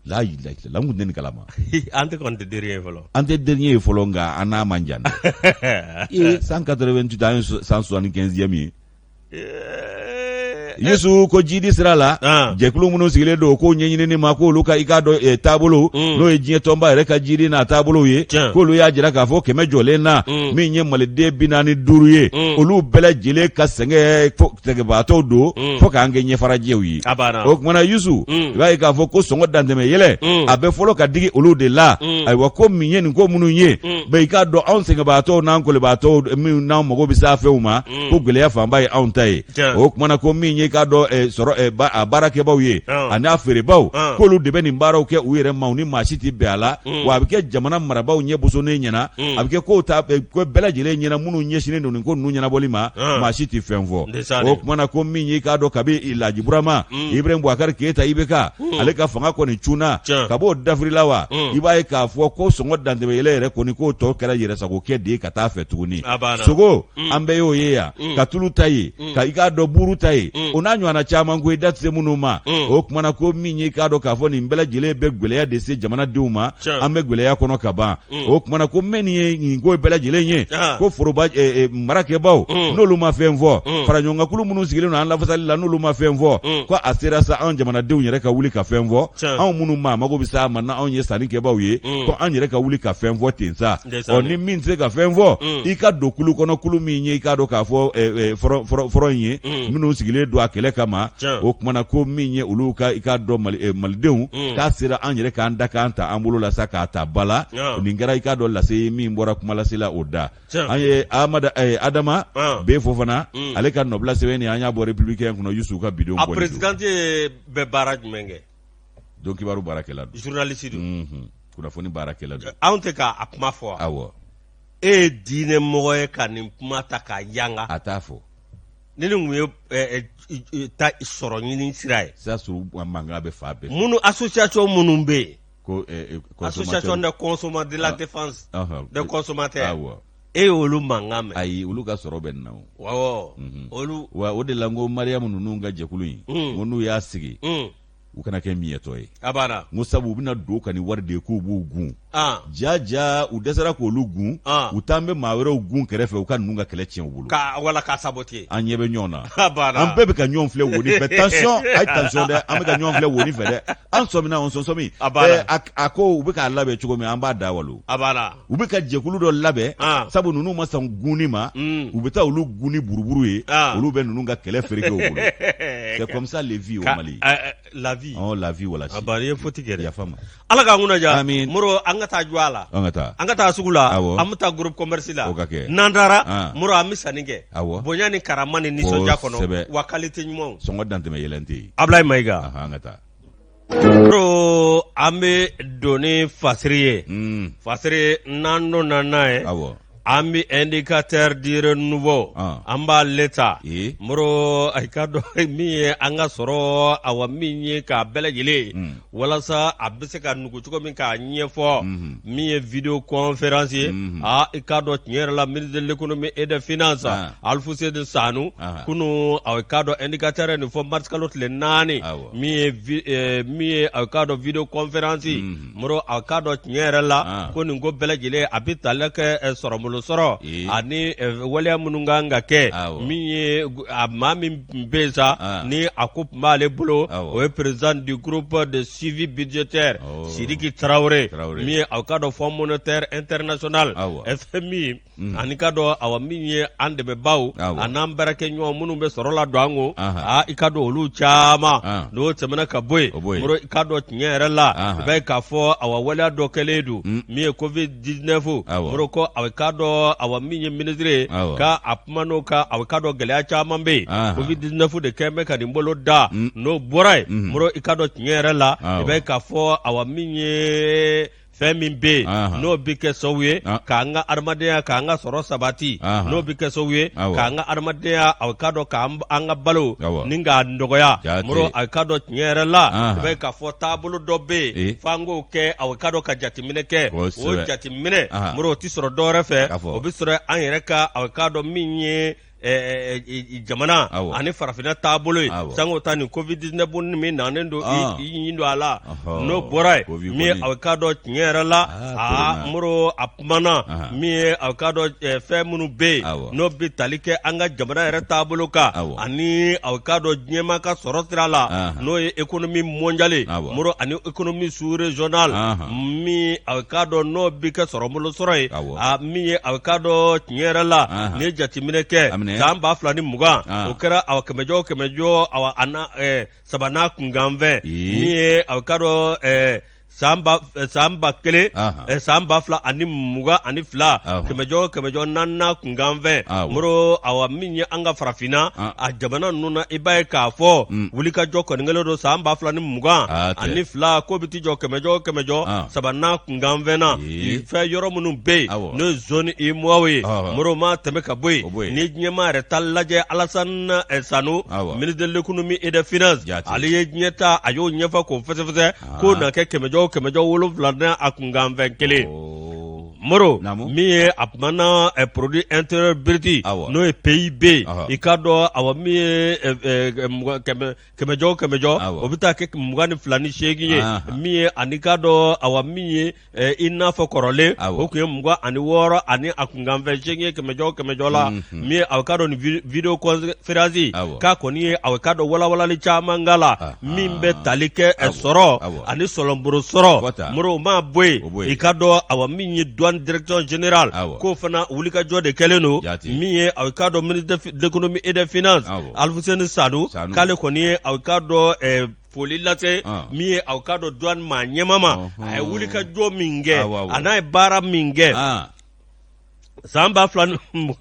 layila an tun tɛ nin kalama an tɛ an tɛ dernier ye fɔlɔ an tɛ dernier ye fɔlɔ nka an n'a man jan dɛ cent quatre-vingt-huit an ye cent soixante-quinzième ye yusu ko jidi sira la jɛkulu minnu sigilen don ko ɲɛɲinini ma k'olu ka i k'a dɔn taabolo n'o ye diɲɛ tɔnba yɛrɛ ka jidi n'a taabolo ye k'olu y'a jira k'a fɔ kɛmɛ jɔlen na min ye maliden bi naani ni duuru ye olu bɛɛ lajɛlen ka sɛgɛn sɛgɛnbaatɔw don Mm. fo k'an kɛ ɲɛfarajɛw ye a banna o kumana yusu Mm. i b'a ye k'a fɔ ko sɔngɔ dantɛmɛ yɛlɛ Mm. a bɛ fɔlɔ ka digi olu de la Mm. ayiwa ko min ye nin ko minnu ye Mm. mais i k'a dɔn anw sɛgɛnbaatɔw n'an kɔlibaatɔw minnu n'an mago bɛ se a fɛnw ma Mm. ko gɛlɛya fanba ye anw ta ye Tiɲɛ. o kumana ko min y'i k'a dɔn eh, sɔrɔ eh, ba- a baarakɛbaaw ye Ah. ani a feerebaaw Ah. k'olu de bɛ nin baaraw kɛ u yɛrɛ ma u ni maa si tɛ bɛn a la Mm. wa a bɛ kɛ jamana marabaaw ɲɛ bosonnen ɲɛna mm. a bɛ kɛ ko ta eh, ko bɛɛ lajɛlen ɲɛna minnu ɲɛsinnen don nin ko ninnu ɲɛnabɔli ma ah. maa si tɛ fɛn fɔ o kuma na ko min y'i k'a dɔn kabi Laji Burama mm. Ibrahim Boubacar Keita IBK ale ka fanga kɔni cunna kab'o dafirila wa i b'a ye k'a fɔ ko sɔngɔ dantɛmɛyɛlɛ yɛrɛ kɔni k'o tɔ kɛra yɛrɛsagokɛ de ye ka t'a fɛ tuguni sogo an bɛɛ y'o ye yan ka tulu ta ye mm. ka i k'a dɔn buuru ta ye mm. o n'a ɲɔgɔnna caman ko i da tɛ se minnu ma mm. o kumana ko min ye k'a dɔn k'a fɔ nin bɛɛ lajɛlen bɛ gwɛlɛya de se jamanadenw ma an bɛ gwɛlɛya kɔnɔ ka ban o kumana ko mɛ nin ye nin ko bɛɛ lajɛlen ye ko foroba eh, eh, marakɛbaw n'olu ma fɛn fɔ faraɲɔgɔnkankulu minnu sigilen don an lafasali la n'olu ma fɛn fɔ ko a sera sa anw jamanadenw yɛrɛ ka wuli ka fɛn fɔ anw minnu ma mago bɛ s'a ma n'anw ye sannikɛbaw ye ko an yɛrɛ ka wuli ka fɛn fɔ ten sa ɔ ni min tɛ se ka fɛn fɔ mm. i ka don kulu kɔnɔ kulu min ye i k'a dɔn k'a fɔ eh, eh, front in ye mm. minnu sigilen don a kɛlɛ kama o kumana ko min ye olu ka i k'a dɔn eh, malidenw mm. k'a sera an yɛrɛ k'an da k'an ta an bolo la sa k'a ta ba la nin kɛra i k'a dɔn lase ye min bɔra kumalasela o da an ye Adama B Fofana ale ka nɔbila sɛbɛn nin an y'a bɔ Républicain kɔnɔ yusufu ka bidon bɔ a présidente bɛ baara jumɛn kɛ donc kibaru baarakɛla don journaliste don unhun kunnafoni baarakɛla don anw tɛ ka a kuma fɔ wa awɔ e ye diinɛ mɔgɔ ye ka nin kuma ta k'a yanga a t'a fɔ ni nin tun ye eh, eh, i- i- ta sɔrɔ ɲini sira ye sisan sɔrɔ mankan bɛ fan bɛɛ fɛ. minnu association minnu bɛ yen ko eh, eh, consommateur- association de consommateurs de la Ah. défense Ɔhɔn. des consommateurs awɔ e y'olu mankan mɛn ayi olu ka sɔrɔ bɛ nin na o awɔ mhm. olu wa o de la n ko mariyamu ninnu ka jɛkulu in mm. ko n'u y'a sigi mm. u kana kɛ miyɛtɔ ye a banna n ko sabu u bɛna don u kan ni wari de ye k'u b'u gun ah. ja ja u dɛsɛra k'olu gun ah. u t'an bɛ maa wɛrɛw gun kɛrɛfɛ u ka ninnu ka kɛlɛ tiɲɛ u bolo wala k'a sabote an ɲɛ bɛ ɲɔgɔn na a banna an bɛɛ bɛ ka ɲɔgɔn filɛ woni fɛ tansiyɔn a ye tansiyɔn dɛ an bɛ ka ɲɔgɔn filɛ woni fɛ dɛ an sɔmina an sɔsɔmi a banna eh, a ko u bɛ k'a labɛn cogo min an b'a da walo a banna u bɛ ka jɛkulu dɔ labɛn ah. sabu ninnu ma sɔn gunni ma hmm. u bɛ taa olu gun ni buruburu ye ah. olu bɛ ninnu ka kɛlɛ fereke u bolo c'est comme ça les vies au Mali eh, eh, la vie oh la vie wala a bari ye foti kɛ yafa ma ala k'an kunna ja amin moro an ka taa jɔ a la an ka taa an ka taa sugu la an bɛ taa groupe commerce la o ka kɛ n'an taara ah. moro an bɛ sanni kɛ bonya ni karama ni nisɔndiya kɔnɔ wa qualité ɲumanw sɔngɔ dantɛmɛ yɛlɛn tɛ yen Ablaye Mayiga an ka taa an bɛ don ni fasiri ye mm. fasiri n'an donna n'a ye an bɛ Indicateur du Renouveau ah. an b'ale ta moro a k'a dɔn min ye an ka sɔrɔ awa min ye k'a bɛɛ lajɛlen mm. walasa a bɛ se ka nugu cogo min k'a ɲɛfɔ mm-hmm. min ye vidéoconférence ye mm-hmm. a ah, i k'a dɔn tiɲɛ yɛrɛ la ministre de l'économie et des finances ah. Alfousseni Sanou kunu aw i k'a dɔn indicateur nin fɔ mars kalo tile naani min ye vi- eh, min ye a k'a dɔn vidéoconférence Mhm. moro a k'a dɔn tiɲɛ yɛrɛ la Ah. ko nin ko bɛɛ lajɛlen a bɛ tali kɛ eh, sɔrɔbolo sɔrɔ Ee. ani eh, waleya minnu ka kan ka kɛ Awɔ. min ye gu- a maa min tun bɛ yen sa Ah. ni a ko tun b'ale bolo Awɔ. o ye président du groupe de suivi budgétaire Awɔ. Sidiki Traoré Traoré. min ye a k'a dɔn Fonds monétaire international Awɔ. FMI Mm. Ani ka dɔn awa min ye an dɛmɛbaw ani an baarakɛɲɔgɔn minnu bɛ sɔrɔ la don an ko aa i ka dɔn olu caman n'o tɛmɛna ka bɔ yen mɔrɔ i ka dɔn tiɲɛ yɛrɛ la i bɛ k'a fɔ awa waleya dɔ kɛlen don min ye COVID-19 mɔrɔ ko a bɛ ka dɔn awa min ye minisiri ye ka a kuma n'o kan a bɛ ka dɔn gɛlɛya caman bɛ yen COVID-19 de tun bɛ ka nin boloda n'o bɔra yen mɔrɔ i ka dɔn tiɲɛ yɛrɛ la i bɛ k'a fɔ awa min ye fɛn min bɛ yen n'o bɛ kɛ sababu ye k'an ka adamadenya k'an ka sɔrɔ sabati n'o bɛ kɛ sababu ye k'an ka adamadenya a ka dɔn k'an ka balo ni k'a nɔgɔya mɔrɔ a ka dɔn tiɲɛ yɛrɛ la i b'a ye k'a fɔ taabolo dɔ bɛ yen f'an k'o kɛ a ka dɔn ka jateminɛ kɛ o jateminɛ mɔrɔ o tɛ sɔrɔ dɔwɛrɛ fɛ o bɛ sɔrɔ an yɛrɛ ka a ka dɔn min ye jamana ani farafinna taabolo ye sango ta ni COVID-19 nin min nanen don i don a la n'o bɔra yen min a ka dɔn tiɲɛ yɛrɛ la aa mɔrɔ a kumana min ye a ka dɔn fɛn minnu bɛ yen n'o bɛ tali kɛ an ka jamana yɛrɛ taabolo kan ani a ka dɔn diɲɛma ka sɔrɔ sira la n'o ye économie mondiale mɔrɔ ani économie sous-régionale min a ka dɔn n'o bɛ kɛ sɔrɔ bolo sɔrɔ ye a min ye a k'a dɔn tiɲɛ yɛrɛ la n'i ye jateminɛ kɛ san ba fila ni mugan o kɛra awa kɛmɛjɔ o kɛmɛjɔ a a na eh, saba n'a kunkanfɛn min ye a k'a dɔn eh, san ba eh, san ba kelen eh, san ba fila ani mugan ani fila kɛmɛjɔ o kɛmɛjɔ naani n'a kunkanfɛn moro awa min ye an ka farafinna a jamana ninnu na i b'a ye k'a fɔ wulikajɔ kɔni kɛlen don san ba fila ni mugan ani fila k'o bɛ t'i jɔ kɛmɛjɔ o kɛmɛjɔ saba n'a kunkanfɛn na Ee. fɛn yɔrɔ minnu bɛ yen n'o ye zone UEMOA ye moro maa tɛmɛ ka bɔ yen ni diɲɛma yɛrɛ ta lajɛ Alassane eh, Sanou ministre de l'économie et des finances ale ye diɲɛ ta a y'o ɲɛfɔ k'o fɛsɛfɛsɛ k'o na kɛ kɛmɛjɔ kɛmɛjɔ wolonwula n'a a kunkanfɛn kelen moro min ye a kumana eh, produit intérieur brut n'o ye PIB i k'a dɔn awa min ye eh, eh, kɛmɛjɔ o kɛmɛjɔ o bɛ taa kɛ mugan ni fila ni seegin ye min ye ani k'a dɔn awa min ye i n'a fɔ kɔrɔlen o tun ye mugan ani wɔɔrɔ ani a kunkanfɛn seegin ye kɛmɛjɔ o kɛmɛjɔ la min ye aw ka dɔn nin vidéoconférence k'a kɔni ye aw ka dɔn walawalali caman k'a la min bɛ tali kɛ sɔrɔ ani sɔlɔnboro sɔrɔ mɔrɔ maa bɔ yen i ka dɔn awa min ye douane direction générale k'o fana wulikajɔ de kɛlen don min ye aw ka dɔn de l'économie et des finances aluseni sanu k'ale kɔni ye aw ka dɔn foli lase min ye aw ka dɔn douane maa ɲɛmaa ma a ye wuli ka jɔ min kɛ an'a ye baara min kɛ san ba fila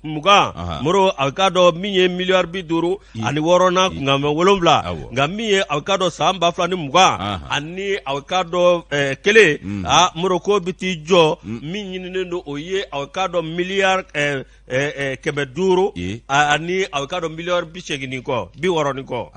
mugan moro aw ka dɔn min ye miliyari bi duuru ani wɔɔrɔ n'a kunkanfɛn wolonwula nka min ye aw ka dɔn san ba fila ni mugan ani aw ka dɔn kelen a moro ko bɛ t'i jɔ min ɲininen don o ye aw ka dɔn miliyari kɛmɛ duuru ani a ka dɔn miliyari bi segin ni kɔ bi wɔɔrɔ ni kɔ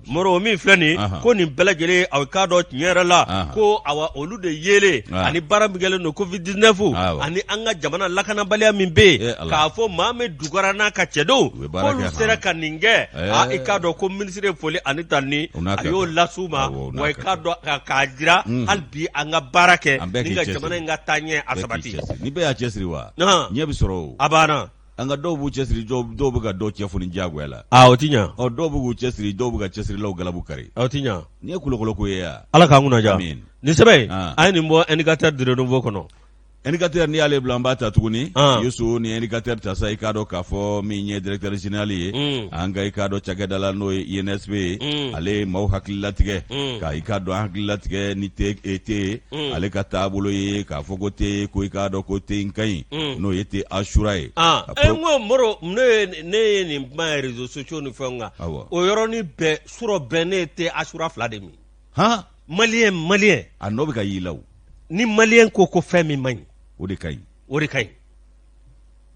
moro o min filɛ nin ko nin bɛɛ lajɛlen a ka dɔn tiɲɛ yɛrɛ la ko awa olu de yelen ani baara min kɛlen don covid-19 ani an ka jamana lakanabaliya min bɛ yen k'a fɔ mahamɛ dukara n'a ka cɛdenw k'olu sera ka nin kɛ i k'a dɔn ko minisiri ye foli ani tanuni a y'o las'u ma wa i k'a dɔn k'a jira hali bi an ka baara kɛ ni ka jamana in ka taa ɲɛ a sabati ni bɛɛ y'a cɛ siri wa ɲɛ bɛ sɔrɔ o a banna nka dɔw b'u cɛ siri dɔw bɛ ka dɔw cɛ foni diyagoya la o tɛ ɲɛ ɔ dɔw bɛ k'u cɛ siri dɔw bɛ ka cɛ sirilaw galabu kari a tɛ ɲɛ nin ye kolokolo ko ye ala k'an kunna diya nin sɛbɛn an ye nin bɔ indicateur du renouveau kɔnɔ indicateur n'i y'ale bila an b'a ta tuguni yusu ni indicateur ta sa i k'a dɔn k'a fɔ min ye directeur général ye an ka i k'a dɔn cakɛda la n'o ye insp ye ale ye maaw hakili latigɛ ka i ka dɔn an hakili latigɛ ni te e te Mm. ale ka taabolo ye k'a fɔ ko te ko i k'a dɔn ko te in ka ɲi mm. n'o ye te asura ye ah, e n ko moro ne ye nin kuma ye réseaux sociaux ni fɛnw kan o yɔrɔnin bɛɛ surɔ bɛɛ ne ye te asura fila de min han maliyɛn maliyɛn a nɔ bɛ ka y'i la o ni maliyɛn ko ko fɛn min man ɲi o de ka ɲi o de ka ɲi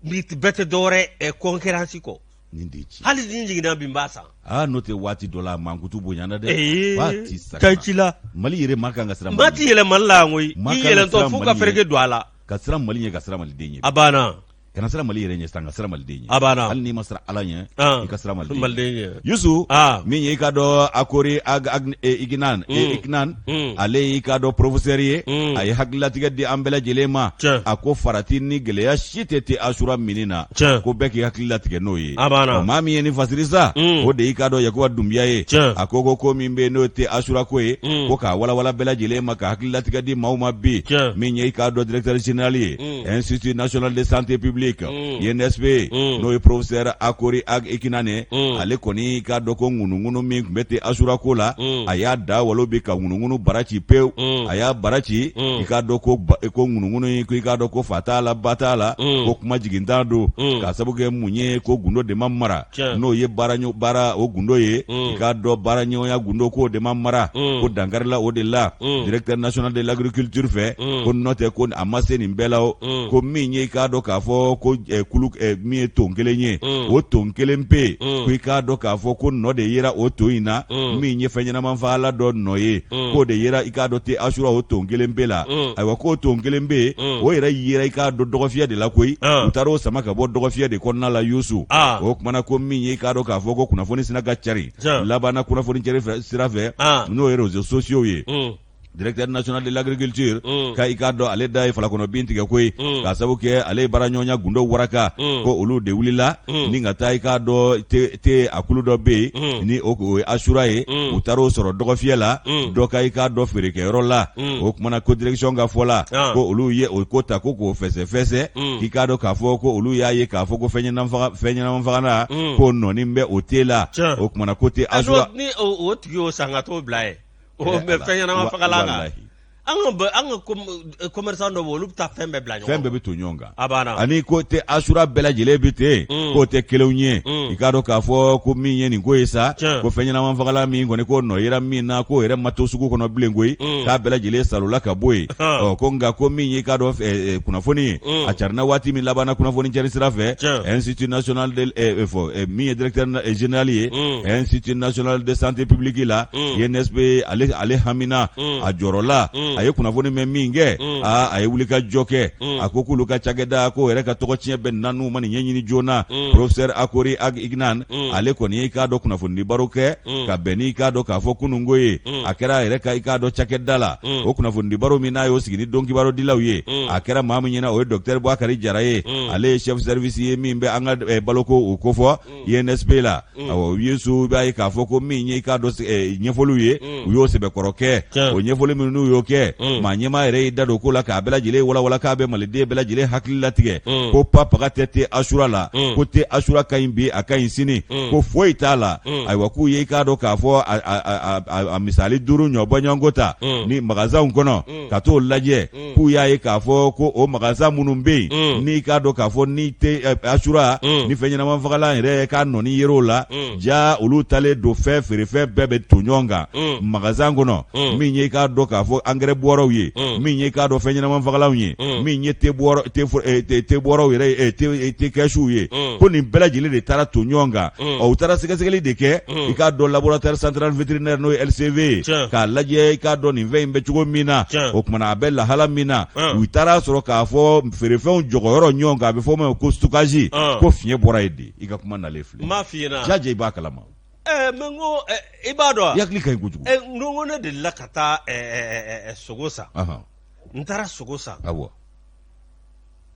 nin bɛɛ tɛ dɔwɛrɛ concurrence kɔ nin de ci hali ni jiginna bi n b'a san aa n'o tɛ waati dɔ la mankutu bonyana dɛ ee ba ti sara ka ci la mali yɛrɛ ma kan ka siran maa tɛ yɛlɛn mali la yan koyi Ma i kan ka yɛlɛntɔ siran f'u ka Mali fereke ɲɛ. don a la ka siran mali ɲɛ ka siran maliden ɲɛ a banna kana siran mali yɛrɛ ɲɛ sisan ka siran maliden ɲɛ a banna hali n'i ma siran ala ɲɛ Ah. i ka siran maliden ɲɛ maliden ɲɛ yusu Ah. min ye i ka dɔn akori ag- ag- e, iginan e, Ah. iginan Mm. ale y'i k'a dɔn porofisɛri ye mm. a ye hakililatigɛ di an bɛɛ lajɛlen ma a ko farati ni gɛlɛya si tɛ te asura minni na ko bɛɛ k'i hakililatigɛ n'o ye maa min ye nin fasiri sa mm. o de y'i k'a dɔn yakuba dunbiya ye a ko ko ko min bɛ n'o te asura ko ye ko k'a walawala bɛɛ lajɛlen ma ka hakililatigɛ di maaw ma bi min ye i k'a dɔn directeur général ye institut national de santé publique mm. insp mm. n'o ye professeur akori ag ikinane mm. ale kɔni i k'a dɔn ko ŋunuŋunu min tun bɛ te asura ko la a y'a da walo bi ka ŋunuŋunu bara ci pewu a y'a bara ci i k'a dɔn ko ko ŋunuŋunu in ko i k'a dɔn ko fa t'a la ba t'a la ko kuma jigintan don k'a sabu kɛ mun ye ko gundo de ma mara n'o ye baara baara o gundo ye mm. i k'a dɔn baara ɲɔgɔnya gundo k'o de ma mara mm. ko dankarila o de la mm. directeur national de l'agriculture fɛ ko n'o tɛ ko a ma se nin bɛɛ la o ko min ye i k'a dɔn k'a fɔ ko eh, kulu eh, min ye ton kelen ye o ton kelen pe ko i k'a dɔn k'a fɔ ko nɔ de yera o ton in na min ye fɛn ɲɛnama fagalan dɔ nɔ ye Mm. k'o de yera i k'a dɔn te asura o ton kelen pe la mm. ayiwa k'o ton kelen pe mm. o yɛrɛ yera i k'a dɔn dɔgɔfiyɛ de la koyi ah. u taar'o sama ka bɔ dɔgɔfiyɛ de kɔnɔna la yusu ah. o kumana ko min ye i k'a dɔn k'a fɔ ko kunnafoni sinna ka cari labanna kunnafoni cari sira fɛ ah. n'o ye réseaux sociaux ye directeur national de l'agriculture mm. ka i k'a dɔn ale da ye falakɔnɔ bin tigɛ koyi mm. k'a sabu kɛ ale ye baaraɲɔgɔnya gundo waraka mm. ko olu de wulila ni ka taa i k'a dɔn te a kulu dɔ bɛ yen ni o ye asura ye u taara o sɔrɔ dɔgɔfiyɛ la dɔ ka i k'a dɔn feerekɛyɔrɔ la o kumana ko direction ka fɔ la ko olu ye o ko ta ko k'o fɛsɛfɛsɛ k'i k'a dɔn k'a fɔ ko olu y'a ye k'a fɔ ko fɛn fɛn ɲɛnama fagalan ko nɔnin bɛ o te la o kumana ko te asura ni o tigi y'o san ka t'o bila yen fɛn ɲɛnama an ka an ka eh, commerçant dɔ bɛ olu bɛ taa fɛn bɛɛ bila ɲɔgɔn fɛn bɛɛ bɛ to ɲɔgɔn kan ani ko te asura bɛɛ lajɛlen bɛ ten mm. k'o tɛ kelen ye mm. i k'a dɔn k'a fɔ ko min ye nin ko ye sa ko fɛn ɲɛnama fagalan min kɔni k'o nɔ yera min na k'o yɛrɛ ma to sugu kɔnɔ bilen koyi mm. k'a bɛɛ lajɛlen salola ka bɔ yen ɔ ko nka ko min ye k'a dɔn eh, eh, kunnafoni ye a carinna waati min labanna kunnafoni cari sira fɛ institut national de fɔ min ye directeur général ye institut national de santé publique la INSP ale ale hamina mm. a jɔrɔla mm. a ye kunnafoni mɛn min kɛ mm. aa a ye wuli ka jɔ kɛ mm. a ko k'olu ka cakɛda k'o yɛrɛ ka tɔgɔtiɲɛ bɛ na n'u ma nin ɲɛɲini joona mm. professeur akory ag iknane mm. ale kɔni y'i k'a dɔn kunnafonidi baro kɛ mm. ka bɛn n'i k'a dɔn k'a fɔ kununko ye mm. a kɛra a yɛrɛ ka i k'a dɔn cakɛda la mm. o kunnafonidi baro min n'a y'o sigi ni donkibaro dilaw ye mm. a kɛra maa min ɲɛna o ye docteur bɔakari jara ye mm. ale ye chef service ye min bɛ an ka eh, baloko o kofɔ INSP la awɔ yusu i b'a ye k'a fɔ ko min ye i k'a dɔn eh, ɲɛfɔliw ye u y'o sɛbɛkɔrɔ kɛ Tiɲɛ. o ɲɛfɔli minnu n'u y'o kɛ maa ɲɛmaa yɛrɛ y'i da don ko la k'a bɛɛ lajɛlen walawala k'a bɛ maliden bɛɛ lajɛlen hakili latigɛ ko ba- baga tɛ te asura la ko te asura ka ɲi bi a ka ɲi sini ko foyi t'a la ayiwa k'u ye i k'a dɔn k'a fɔ a- a- a- a- a misali duuru ɲɔgɔn bɔɲɔgɔnko ta nin magasinw kɔnɔ ka t'o lajɛ k'u y'a ye k'a fɔ ko o magasin minnu bɛ yen n'i k'a dɔn k'a fɔ ni te asura ni fɛn ɲɛnamafagalan yɛrɛ ka nɔnin yer'o la ja olu talen don fɛn feerefɛn bɛɛ bɛ to ɲɔgɔn kan magasin kɔnɔ min ye k'a dɔn k'a fɔ angɛrɛ bɔrɔw ye min ye k'a dɔn fɛn ɲɛnamafagalanw ye min ye te bɔrɔw yɛrɛ te kɛsuw ye ko nin bɛɛ lajɛlen de taara to ɲɔgɔn kan u taara sɛgɛsɛgɛli de kɛ i k'a dɔn laboratoire central vétérinaire n'o ye LCV ye k'a lajɛ i k'a dɔn nin fɛn in bɛ cogo min na o kumana a bɛ lahala min na u taara sɔrɔ k'a fɔ feerefɛnw jɔgɔyɔrɔ ɲɔgɔn kan a bɛ fɔ o ma ko stockage ko fiɲɛ bɔra yen de i ka kuma nalen filɛ n b'a f'i ɲɛna jajɛ i b'a kalama ɛɛ mais n ko i b'a dɔn i hakili ka ɲi kojugu ɛɛ n ko ne delila ka taa sogo san n taara sogo san awɔ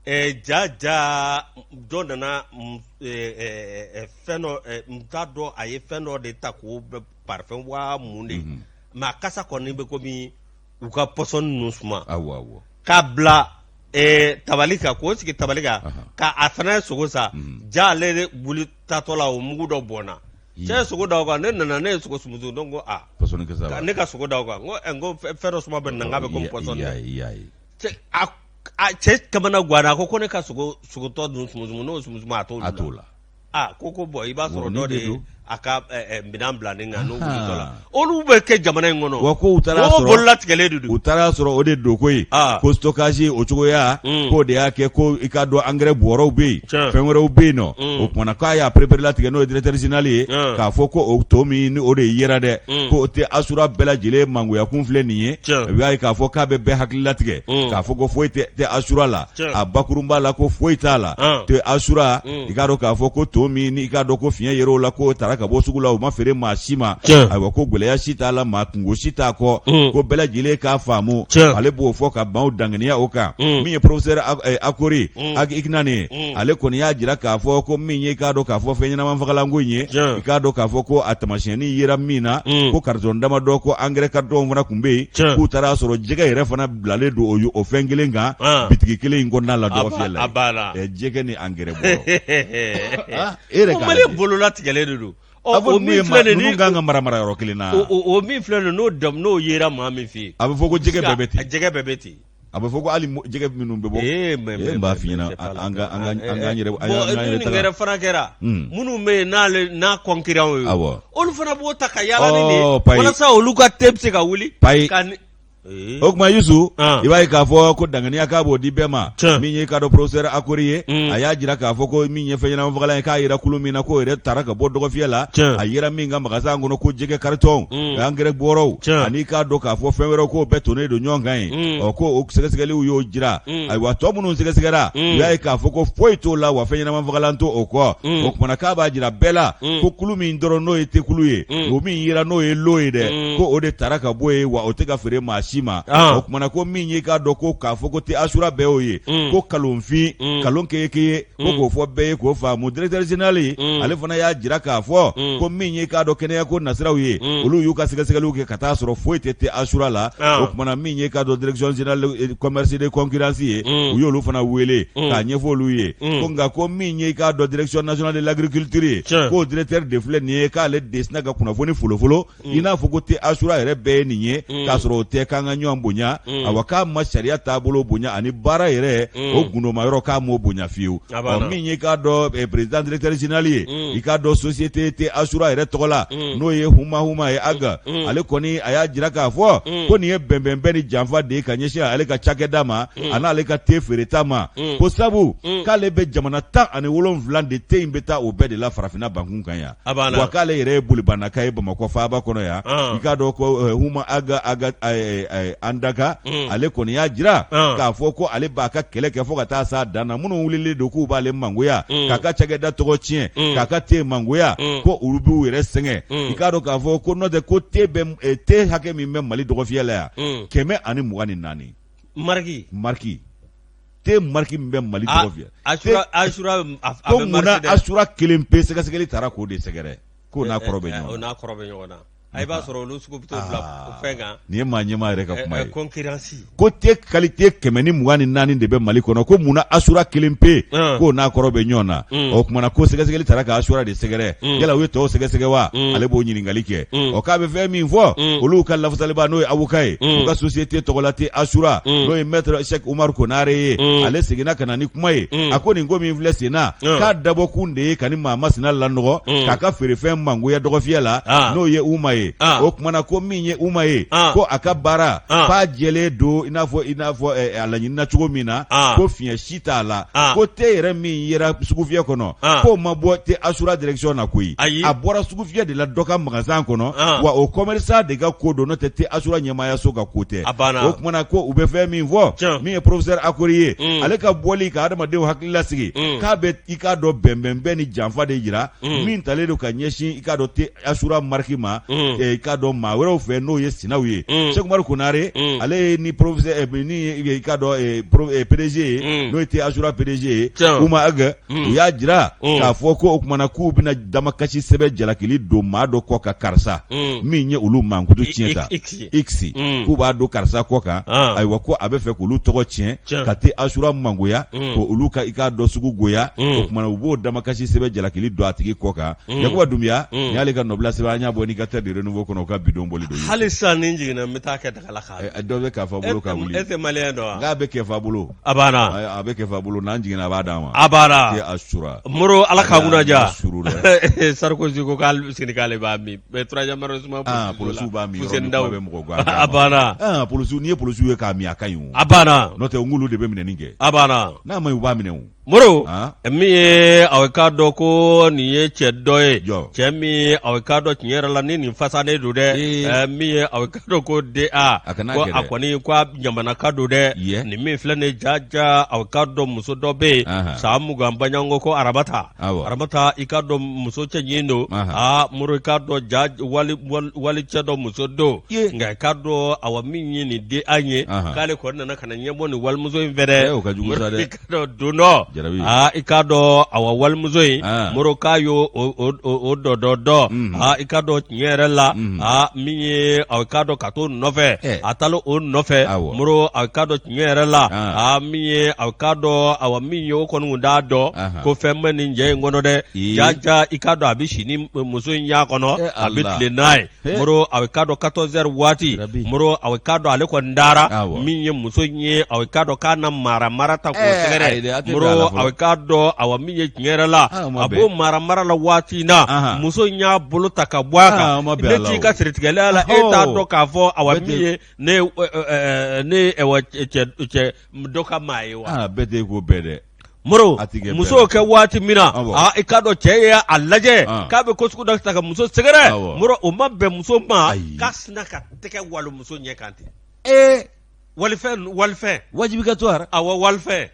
Ɛɛ ja ja dɔ nana fɛn dɔ n t'a dɔn a ye fɛn dɔ de ta ko bɛ parfum waa mun de mais a kasa kɔni bɛ komi u ka pɔsɔni ninnu suma k'a bila tabali kan k'o sigi tabali kan k'a fana ye sogo san ja ale wuli tatɔ la o mugu dɔ bɔnna cɛ ye sogo da o kan ne nana ne ye sogo sumusu donc ko ne ka sogo da kan ko fɛn dɔ suma bɛ nin na n k'a bɛ komi pɔsɔni a cɛ kamanagwanna a ko ko ne ka sogo sogo tɔ dun sumusumu n'o sumusumu a t'o a t'o la a ko ko bɔn i b'a sɔrɔ dɔ de ye a ka eh, eh, minɛn bila nin kan n'o wulitɔ la olu bɛ kɛ jamana in kɔnɔ wa ko u taara mɔgɔw sɔrɔ bololatigɛlen de don u taara sɔrɔ o de don koyi Ah. ko stockage o cogoya Mm. k'o de y'a kɛ ko i k'a dɔn angɛrɛ bɔrɔw bɛ yen Tiɲɛ. fɛn wɛrɛw bɛ yen nɔ Mm. o kumana k'a y'a pereperelatigɛ n'o ye directeur général ye Mm. k'a fɔ ko o ton min ni o de yera dɛ Mm. ko o tɛ asura bɛɛ lajɛlen mangoyakun filɛ nin ye Tiɲɛ. i b'a ye k'a fɔ k'a bɛ bɛɛ hakili latigɛ Mm. k'a fɔ ko foyi tɛ te asura la Tiɲɛ. a bakurunba la ko foyi t'a la Ah. te asura Mm. i k'a dɔn k'a fɔ ko ton min n'i k'a dɔn ko fiɲɛ yer'o la k'o tara ka bɔ sugu la o ma feere maa si ma Tiɲɛ. ayiwa ko gɛlɛya si t'a la maa kungo si t'a kɔ Mm. ko bɛɛ lajɛlen k'a faamu Tiɲɛ. ale b'o fɔ k'a b'aw danganiya o kan Mm. min ye professeur Ak- eh, Akory Mm. Ag Iknane ye Mm. ale kɔni y'a jira k'a fɔ ko min ye i k'a dɔn k'a fɔ fɛn ɲɛnamafagalanko in ye i k'a dɔn k'a fɔ ko a tamasiyɛnni yera min na mm. ko karitɔn damadɔ ko angɛrɛ karitɔnw fana tun bɛ yen k'u taara sɔrɔ jɛgɛ yɛrɛ fana bilalen don o fɛn kelen kan ah. bitigi kelen in kɔnɔna la dɔgɔfiyɛ la jɛgɛ ni angɛrɛ bɔ ah, e yɛrɛ k'a lajɛ bololatigɛlen de don a fɔ min ye ma ninnu kan ka mara marayɔrɔ kelen na o min filɛ nin n'o dam n'o yera maa min fɛ yen a bɛ fɔ ko jɛgɛ bɛɛ bɛ ten jɛgɛ bɛɛ bɛ ten a bɛ fɔ ko hali jɛgɛ minnu bɛ bɔ ee mais ee, n b'a f'i ɲɛna an ka an ka an ka an yɛrɛ an ka an yɛrɛ taga fana kɛra hmm. minnu bɛ yen n'ale n'a concurrents ye awɔ olu fana b'o ta ka yaala ni de ye oh, walasa olu ka te bɛ se ka wuli payi Eh. o kuma yusu ah. i b'a ye k'a fɔ ko danganiya k'a b'o di bɛɛ ma min ye i k'a dɔn professeur Akory ye mm. a y'a jira k'a fɔ ko min ye fɛnɲɛnamafagalan ye k'a yera kulu min na k'o yɛrɛ tara ka bɔ dɔgɔfiyɛ la a yera min ka magasan kɔnɔ ko jɛgɛ karitɔn Mm. angɛrɛ bɔrɔw Tiɲɛ. ani i k'a dɔn k'a fɔ fɛn wɛrɛw k'o bɛɛ tonnen don ɲɔgɔn kan yen Mm. ɔ ko o sɛgɛsɛgɛliw y'o jira Mm. ayiwa tɔ minnu sɛgɛsɛgɛra Mm. u y'a ye k'a fɔ ko foyi t'o la wa fɛnɲɛnamafagalan t'o kɔ Mm. o kumana k'a b'a jira bɛɛ la Mm. ko kulu min dɔrɔn n'o ye tekulu ye Mm. o min yira n'o ye lot ye dɛ Mm. ko o de tara ka bɔ yen wa o tɛ ka feere maa si ma Ah. o kumana ko min ye i k'a dɔn ko k'a fɔ ko te asura bɛɛ y'o ye Mm. ko kalonfin Mm. kalon keyekeye ko k'o fɔ bɛɛ ye k'o faamu directeur général ale fana y'a jira k'a fɔ ko min ye k'a dɔn kɛnɛya ko nasiraw ye olu y'u ka sɛgɛsɛgɛliw kɛ ka taa sɔrɔ foyi tɛ te asura la o kumana min ye k'a dɔn direction générale commerce de concurrence ye u y'olu fana wele k'a ɲɛfɔ olu ye ko nka ko min ye k'a dɔn direction nationale de l'agriculture ye k'o directeur de filɛ nin ye k'ale de sinna ka kunnafoni folofolo mm. i n'a fɔ ko te asura yɛrɛ bɛɛ ye nin ye mm. k'a sɔrɔ o tɛ k'an ka ɲɔgɔn bonya mm. awa k'a ma sariya taabolo bonya ani baara yɛrɛ o gundoma yɔrɔ k'a m'o bonya fiyewu ɔ min ye k'a dɔn eh, président directeur général ye i k'a dɔn société te asura yɛrɛ tɔgɔ la n'o ye huma huma ye aga ale kɔni a y'a jira k'a fɔ ko nin ye bɛnbɛnbɛn ni janfa de ye ka ɲɛsin ale ka cakɛda ma an'ale ka te feereta ma ko sabu k'ale bɛ jamana tan ani wolonwula de te in bɛ taa o bɛɛ de la farafinna bankun kan yan wa k'ale yɛrɛ ye bolibanaka ye bamakɔ faaba kɔnɔ yan ah. i k'a dɔn ko eh, huma aga aga eh, eh, andaka mm. ale kɔni y'a jira ah. k'a fɔ ko ale b'a ka kɛlɛ kɛ fo ka taa s'a dan na minnu wulilen don k'u b'ale mangoya mm. k'a ka cakɛda tɔgɔ tiɲɛ mm. k'a ka te mangoya ko olu b'u yɛrɛ sɛgɛn i k'a dɔn k'a fɔ ko n'o tɛ ko te bɛ te hakɛ min bɛ mali dɔgɔfiyɛ la yan kɛmɛ ani mugan ni naani mariki mariki te mariki min bɛ mali dɔgɔfiyɛ la ko munna asura kelen pe sɛgɛsɛgɛli taara k'o de sɛgɛrɛ k'o n'a eh, eh, kɔrɔ bɛ eh, ɲɔgɔn n'a kɔrɔ bɛ ɲɔgɔn na a i b'a sɔrɔ olu sugu bɛ to bila ah. fɛn kan nin ye maa ɲɛmaa yɛrɛ ka kuma ye kɔnkiransi ko te kalite kɛmɛ ni mugan ni naani de bɛ mali kɔnɔ ko munna asura kelen pe k'o n'a kɔrɔ bɛ ɲɔgɔn na hmm. o kumana ko sɛgɛsɛgɛli taara ka asura de sɛgɛrɛ mm. yala u ye tɔw sɛgɛsɛgɛ wa mm. ale b'o ɲininkali kɛ mm. ɔ k'a bɛ fɛn min fɔ olu ka lafasaliba n'o ye awoka ye u ka sosiyete tɔgɔ la te asura n'o ye mɛtre sɛk umaru konare ye ale seginna ka na ni kuma ye a ko nin ko min filɛ sen na k'a dabɔkun de ye ka nin maa masina lanɔgɔ k'a ka feerefɛn mangoya dɔgɔfiyɛ la n'o ye uma ye o kumana ko min ye uma ye ko a ka baara k'a jɛlen don i n'a fɔ i n'a fɔ eh, a laɲinina cogo min na ko fiɲɛ si t'a la ah. ko te yɛrɛ min yera sugufiyɛ kɔnɔ ah. k'o ma bɔ te asura direction na koyi a bɔra sugufiyɛ de la dɔ ka magasan kɔnɔ ah. wa o commerçant de ka ko don n'o tɛ te asura ɲɛmaayaso ka ko tɛ o kumana ko u bɛ fɛn min fɔ min ye professeur akori ye mm. ale ka bɔli ka adamadenw hakili lasigi mm. k'a bɛ i k'a dɔn bɛnbɛnbɛn ni janfa de jira mm. min talen don ka ɲɛsin i k'a dɔn te asura mariki ma mm. eh, i k'a dɔn maa wɛrɛw fɛ n'o ye sinaw ye mm. sɛk umaru konare mm. ale ye ni professeur eh, ni eh, i k'a dɔn eh, pro, eh, PDG ye mm. n'o ye te asura PDG ye Uma Ag mm. u y'a jira mm. k'a fɔ ko o kumana k'u bɛna damakasi sɛbɛn jalakili don maa dɔ kɔ ka karisa mm. min ye olu mankutu tiɲɛ ta iksi mm. k'u b'a don karisa kɔ kan ah. ayiwa ko a bɛ fɛ k'olu tɔgɔ tiɲɛ ka te asura mangoya mm. ko olu ka i k'a dɔn sugu goya mm. o kama na u b'o damakasi sɛbɛ jalakili don a tigi kɔ kan mm. yakuba dumbiya mm. nin y'ale ka nɔbila sɛbɛ an y'a bɔ indicateur de renouveau kɔnɔ u ka bi don bɔli don hali sisan ni n jiginna n bɛ taa kɛ dagala ka eh, eh, dɔ bɛ kɛfa bolo ka wuli e tɛ maliyɛn dɔn wa nka a bɛ kɛfa bolo a banna eh, a bɛ kɛfa bolo n'an jiginna a b'a d'a ma a banna asura moro ala k'a kunna ja sarkozy ko k'ale sigi k'ale b'a min Mais troisième arrondissement Ah, policiers polisiw b'a min yɔrɔ Fuseni min, Daw. kuma bɛ mɔgɔ gan. A banna. Ah, polisiw, n'i ye polisiw ye k'a min, a ka ɲi o. A banna. N'o tɛ, n k'olu de bɛ minɛni kɛ. A banna. N'a ma ɲi, u b'a minɛ o. Moro, Ah. min ye aw k'a dɔn ko nin ye cɛ dɔ ye, Jɔ. cɛ min ye aw k'a dɔn tiɲɛ yɛrɛ la ni nin fasanen don dɛ, Ee. eh, min ye aw k'a dɔn ko DA, A kana ko gɛrɛ. a kɔni ko a jamanaka don dɛ, Ye. nin min filɛ nin ye jaja aw k'a dɔn muso dɔ bɛ yen, Ahan. san mugan baɲanko ko aramata, aramata i k'a dɔn muso cɛɲin don aa moro i k'a dɔn jaa walicɛ dɔ muso don nka i k'a dɔn awa min ye nin DA ye k'ale kɔni nana ka na ɲɛbɔ nin walimuso in fɛ dɛ i k'a dɔn don dɔ i k'a dɔn awa walimuso in moro k'a y' o dɔ dɔ dɔn aa i k'a dɔn tiɲɛ yɛrɛ la aa min ye k'a dɔn ka t'o nɔfɛ a taara o nɔfɛ moro k'a tiɲɛ yɛrɛ la a min ye a k'a dɔn a min ye o kɔni tun t'a dɔn ko fɛn bɛ nin cɛ in kɔnɔ dɛ jaja i k'a dɔn a bɛ si ni muso in y'a kɔnɔ a bɛ tilen n'a ye moro a k'a dɔn katɔzɛri waati moro a k'a dɔn ale kɔni dara min ye muso in ye a k'a dɔn ka na maramara ta k'o sɛgɛrɛ moro a k'a dɔn a min ye tiɲɛ yɛrɛ la a b'o maramara la waati in na muso in y'a bolo ta ka bɔ a kan ne t'i ka siritigɛlɛya la e t'a dɔn k'a fɔ awa min ye ne ye ɛ- ɛ- ɛ- ne ye ɛwɔ cɛ- cɛ- cɛ dɔ ka maa ye wa aa bɛɛ tɛ ko bɛɛ dɛ moro A ti kɛ muso bɛɛ. kɛ waati min na Awɔ. aa, i k'a dɔn cɛ ye a lajɛ Ah. k'a bɛ ko sugu dɔ ta ka muso sɛgɛrɛ Awɔ. moro o ma bɛn muso ma Ayi. k'a sina ka tɛgɛ walon muso ɲɛ kan ten ee walifɛn walifɛn wajibi ka to ara awɔ walifɛn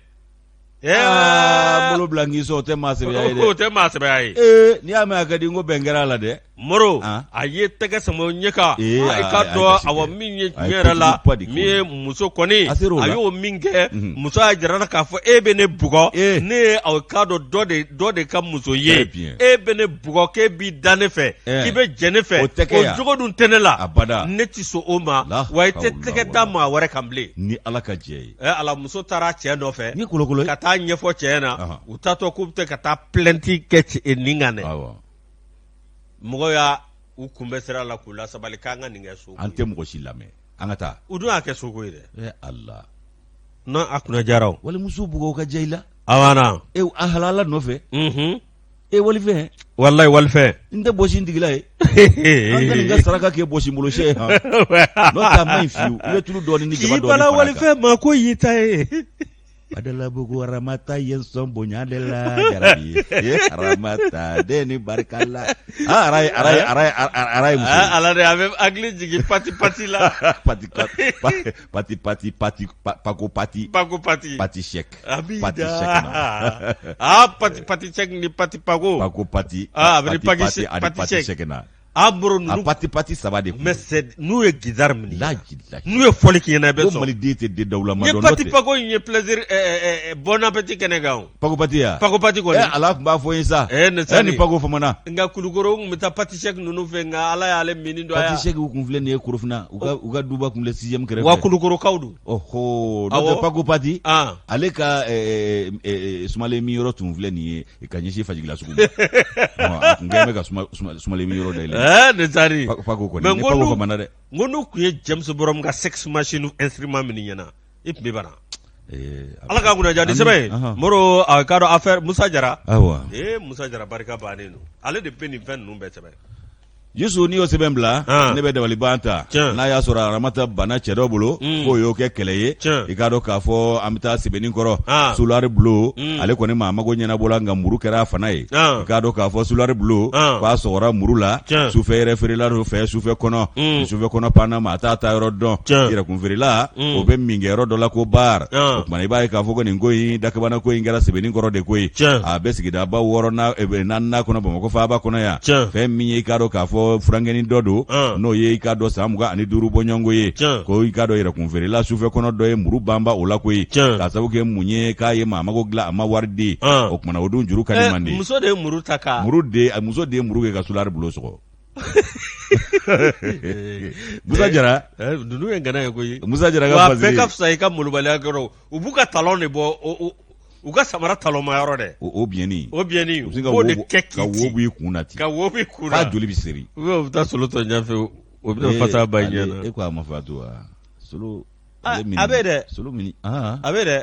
Aa, bolo bila n k'i sɔn o tɛ maa sɛbɛya ye dɛ o tɛ maa sɛbɛya ye ee n'i y'a mɛn a ka di n ko bɛn kɛra a la dɛ moro Ah. a ye tɛgɛ sama ɲɛ kan Ee, a- i a- k'a a- dɔn a- a- awa min ye a- tiɲɛ yɛrɛ la a- a- min ye muso kɔni A ser'o a la. y'o minkɛ Mhm. muso y'a jira a la k'a fɔ e bɛ ne bugɔ Ee. ne ye aw k'a dɔn dɔ de dɔ de ka muso ye Très bien. e bɛ ne bugɔ k'e b'i da ne fɛ Eh. k'i bɛ jɛ ne fɛ O tɛ kɛ yan. jogo dun tɛ ne la Abada. ne tɛ sɔn o ma La wa i tɛ hawla tɛgɛ wala. da maa wɛrɛ kan bilen ni ala ka jɛ ye ɛ ala muso taara cɛ nɔfɛ ni kolokolo ka taa ɲɛfɔ cɛ na u taatɔ k'u bɛ ka taa plainte kɛ cɛ nin kan dɛ mɔgɔ y'u kunbɛn sira la k'u lasabali k'an ka nin kɛ soko an tɛ mɔgɔ si lamɛn an ka taa u dun y'a kɛ soko ye dɛ ala n'a a kunna jara o walimuso bugɔ ka jɛ i la a e a halala nɔfɛ e walifɛn walayi walifɛn n tɛ bɔsi n tigi la ye an tɛ nin ka saraka kɛ bɔsi n bolo sɛ ye han n'o tɛ a man ɲi fiyewu i bɛ tulu dɔɔni ni jaba k'i dɔɔni bala fara a kan walifɛn ma ko y'i ta ye Adalabugu aramata ye sɔn bonya de la jarabi ye aramata den ni barika la Ah, araye araye araye araye muso ye. Ah, ala de a bɛ hakili jigin pati pati la pati pati pati pati pati pa- pako pati Pako pati. pati shek Abida. pati shek na ah, pati pati cek ni pati pako. pako pati Ah, a bɛ ni pati paki pati shek- ani pati pati shek. shek na An bɔra a ninnu pati pati saba de kun mɛ sɛ n'u ye gidari minɛ. laji laji N'u ye fɔli k'i ɲɛna i bɛ ko sɔn. mali den tɛ den dawulama N ye dɔn n'o pati tɛ pako in ye plaisir ɛɛ ɛɛ ɛɛ bon appétit kɛnɛ kan o. pakopati ya pakopati kɔni eh, ala tun b'a fɔ ye sa eh, eh, ni pako famana nka kulukoro tun bɛ taa pati sɛki ninnu fɛ nka ala y'ale mini dɔ pati sɛki kun filɛ nin ye korofina u ka u ka duba kun filɛ sixième kɛrɛfɛ wa kulukorokaw don ɔhɔ n'o pako pati ah. ale ka eh, eh, sumalen min yɔrɔ tun filɛ nin ye ka ɲɛsin fajigila sugu ma a tun kɛlen bɛ ka sumalen min yɔrɔ dayɛlɛ ne taari pako kɔni ni pako famana dɛ n ko n'u tun ye james brown ka sex machine instrument minnu ɲɛna i tun bɛ bana Ee, a- Ala ka kunna diya ni Ami, sɛbɛn ye ahan. Moro a k'a dɔn affaire Musa Jara Awa. ee Musa Jara barika bannen don ale de bɛ nin fɛn ninnu bɛɛ sɛbɛn Yusu n'i y'o sɛbɛn bila Ah. ne bɛ dabaliban ta Tiɲɛ. n'a y'a sɔrɔ aramata banna cɛ dɔ bolo Mm. k'o y'o kɛ kɛlɛ ye Tiɲɛ. i k'a dɔn k'a fɔ an bɛ taa sebeninkɔrɔ Ah. sulari bulo Mm. ale kɔni maa mago ɲɛnabɔla nka muru kɛra a fana ye Ah. i k'a dɔn k'a fɔ sulari bulo Ah. k'a sɔgɔra muru la Tiɲɛ. sufɛ yɛrɛ feerela dɔ fɛ sufɛ kɔnɔ Mm. ni sufɛ kɔnɔ panna maa t'a taayɔrɔ dɔn Tiɲɛ. i yɛrɛkun feerela o bɛ min kɛ yɔrɔ dɔ la ko baari o tuma i b'a ye k'a fɔ ko nin ko in dakabana ko in kɛra sebeninkɔrɔ de ko ye a bɛ sigidaba wɔɔrɔ naaninan kɔnɔ bamakɔ faaba kɔnɔ yan fɛn min ye i k'a dɔn k'a fɔ funankɛni dɔ don n'o ye i k'a dɔn san mugan ani duuru bɔɲɔgɔnko ye ko i k'a dɔn yɛrɛkun feerela sufɛ kɔnɔ dɔ ye muru banba o la ko ye k'a sabu kɛ mun ye k'a ye maa mago dilan a ma wari di o kumana o dun juru ka di man di muso de ye muru ta ka muru muso de ye muru kɛ ka sulari bulo sɔgɔ musa jara eh, ninnu ye ŋana ye koyi musa jara ka fasiri wa bɛɛ ka fisa i ka molobaliya kɔrɔ u b'u ka talon de bɔ u ka samara talonma yɔrɔ dɛ o biyɛnni o biyɛnni u b'o de kɛ k'i ka wo b'i kun na ten ka wo b'i kun na f'a joli bɛ seri u bɛ taa solo tɔ ɲɛfɛ o bɛ eh, fasa ba ɲɛ na e ko a ma fa to wa solo a bɛ dɛ solo min a bɛ dɛ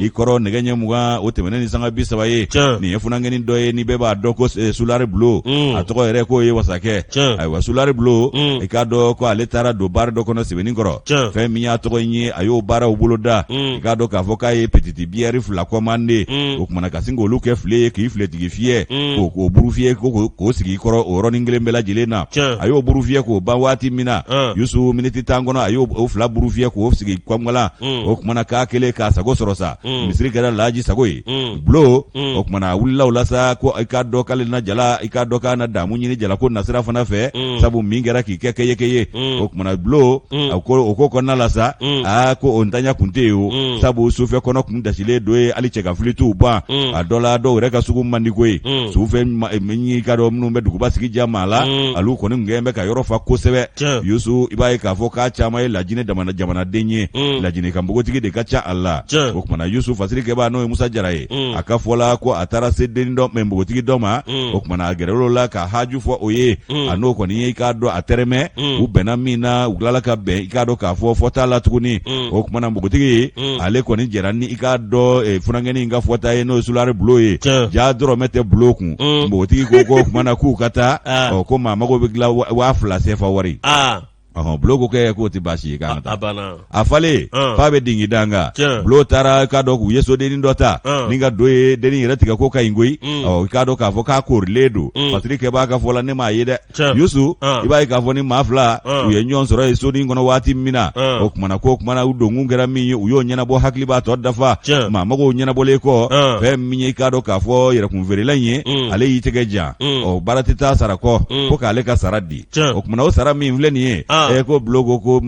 i kɔrɔ nɛgɛ ɲɛ mugan o tɛmɛnen ni sanga bi saba ye nin ye funankɛni dɔ ye ni bɛɛ b'a dɔn ko eh, sulari bulo mm. a tɔgɔ yɛrɛ k'o ye wasakɛ ayiwa sulari bulo mm. i k'a dɔn ko ale taara don baari dɔ kɔnɔ sebeninkɔrɔ fɛn min y'a tɔgɔ in ye a y'o baaraw bolo da mm. i k'a dɔn k'a fɔ k'a ye pititi biyɛri fila kɔmande o kumana ka sin k'olu kɛ file ye k'i filetigi fiyɛ k'o k'o burufiyɛ k'o sigi i kɔrɔ o yɔrɔnin kelen bɛɛ lajɛlen na a y'o burufiyɛ k'o ban waati min na yusu miniti tan kɔnɔ a y'o fila burufiyɛ k'o sigi kɔngala mm. o tumana k'a kelen k'a sago sɔrɔ sa mm. misiri kɛra laji sago ye mm. bulo mm. o tumana wulila o la sa ko i k'a dɔn k'ale na jala i k'a dɔn k'a na damu ɲini jalako nasira fana fɛ mm. sabu min kɛra k'i kɛ kɛ ye kɛ ye mm. o tumana bulo mm. o ko kɔnɔna la sa mm. aa ko o ntanya kun tɛ yen o mm. sabu sufɛkɔnɔ kun dasilen don yen hali cɛkanfili t'u ban mm. a dɔ la dɔw yɛrɛ ka sugu man di koyi mm. sufɛ eh, min y'i k'a dɔn minnu bɛ duguba sigi ja maa la mm. olu kɔni gɛn bɛ ka yɔrɔ fa kosɛbɛ yusu i b'a ye k'a fɔ k'a caman ye lajinɛ jamana jamanaden ye mm. lajinɛka npogotigi de ka ca a la o tumana yusu fasirikɛbaa n'o ye musa jara ye mm. a ka fɔ la ko a taara se denni dɔ ma npogotigi dɔ ma mm. o tumana a gɛrɛl'o la ka haju fɔ o ye a n'o kɔni ye i k'a dɔn a tɛrɛmɛ u bɛnna min na u tilala ka bɛn i k'a dɔn k'a fɔ fɔta la tuguni o tumana npogotigi ale kɔni jɛra ni i k'a dɔn eh, funankɛni in ka fɔta ye n'o ye sulare bulo ye ja dɔrɔmɛ tɛ bulo kun npogotigi ko ko o tumana k'u ka taa ah. ko maa mago bɛ dilan waa fila sefa wari ah. ɔhɔn bulo ko kɛ k'o tɛ baasi ye k'an ka taa a banna a falen Ɔn. f'a bɛ dingin da n kan Tiɲɛ. bulo taara k'a dɔn k'u ye sodennin dɔ ta Ɔn. ni ka don yen dennin yɛrɛ tigɛko ka ɲi koyi Mm. ɔ i k'a dɔn k'a fɔ k'a korilen don Mm. fasirikɛbaa ka fɔ la ne m'a ye dɛ Tiɲɛ. yusu Ɔn. i b'a ye k'a fɔ ni maa fila Ɔn. u ye ɲɔgɔn sɔrɔ ye sodennin kɔnɔ waati min na Ɔn. o kumana k'o kumana u donkun kɛra min ye u y'o ɲɛnabɔ hakili b'a tɔ dafa Tiɲɛ. maa mago ɲɛnabɔlen kɔ Ɔn. fɛn min ye i k'a dɔn k'a fɔ yɛrɛkunfeerela in ye Mm. ale y'i tɛgɛ jan Mm. ɔ baara tɛ taa sara kɔ Mm. ko k'ale ka sara di o tuma o sara min filɛ nin ye ɛ ko bulo ko ko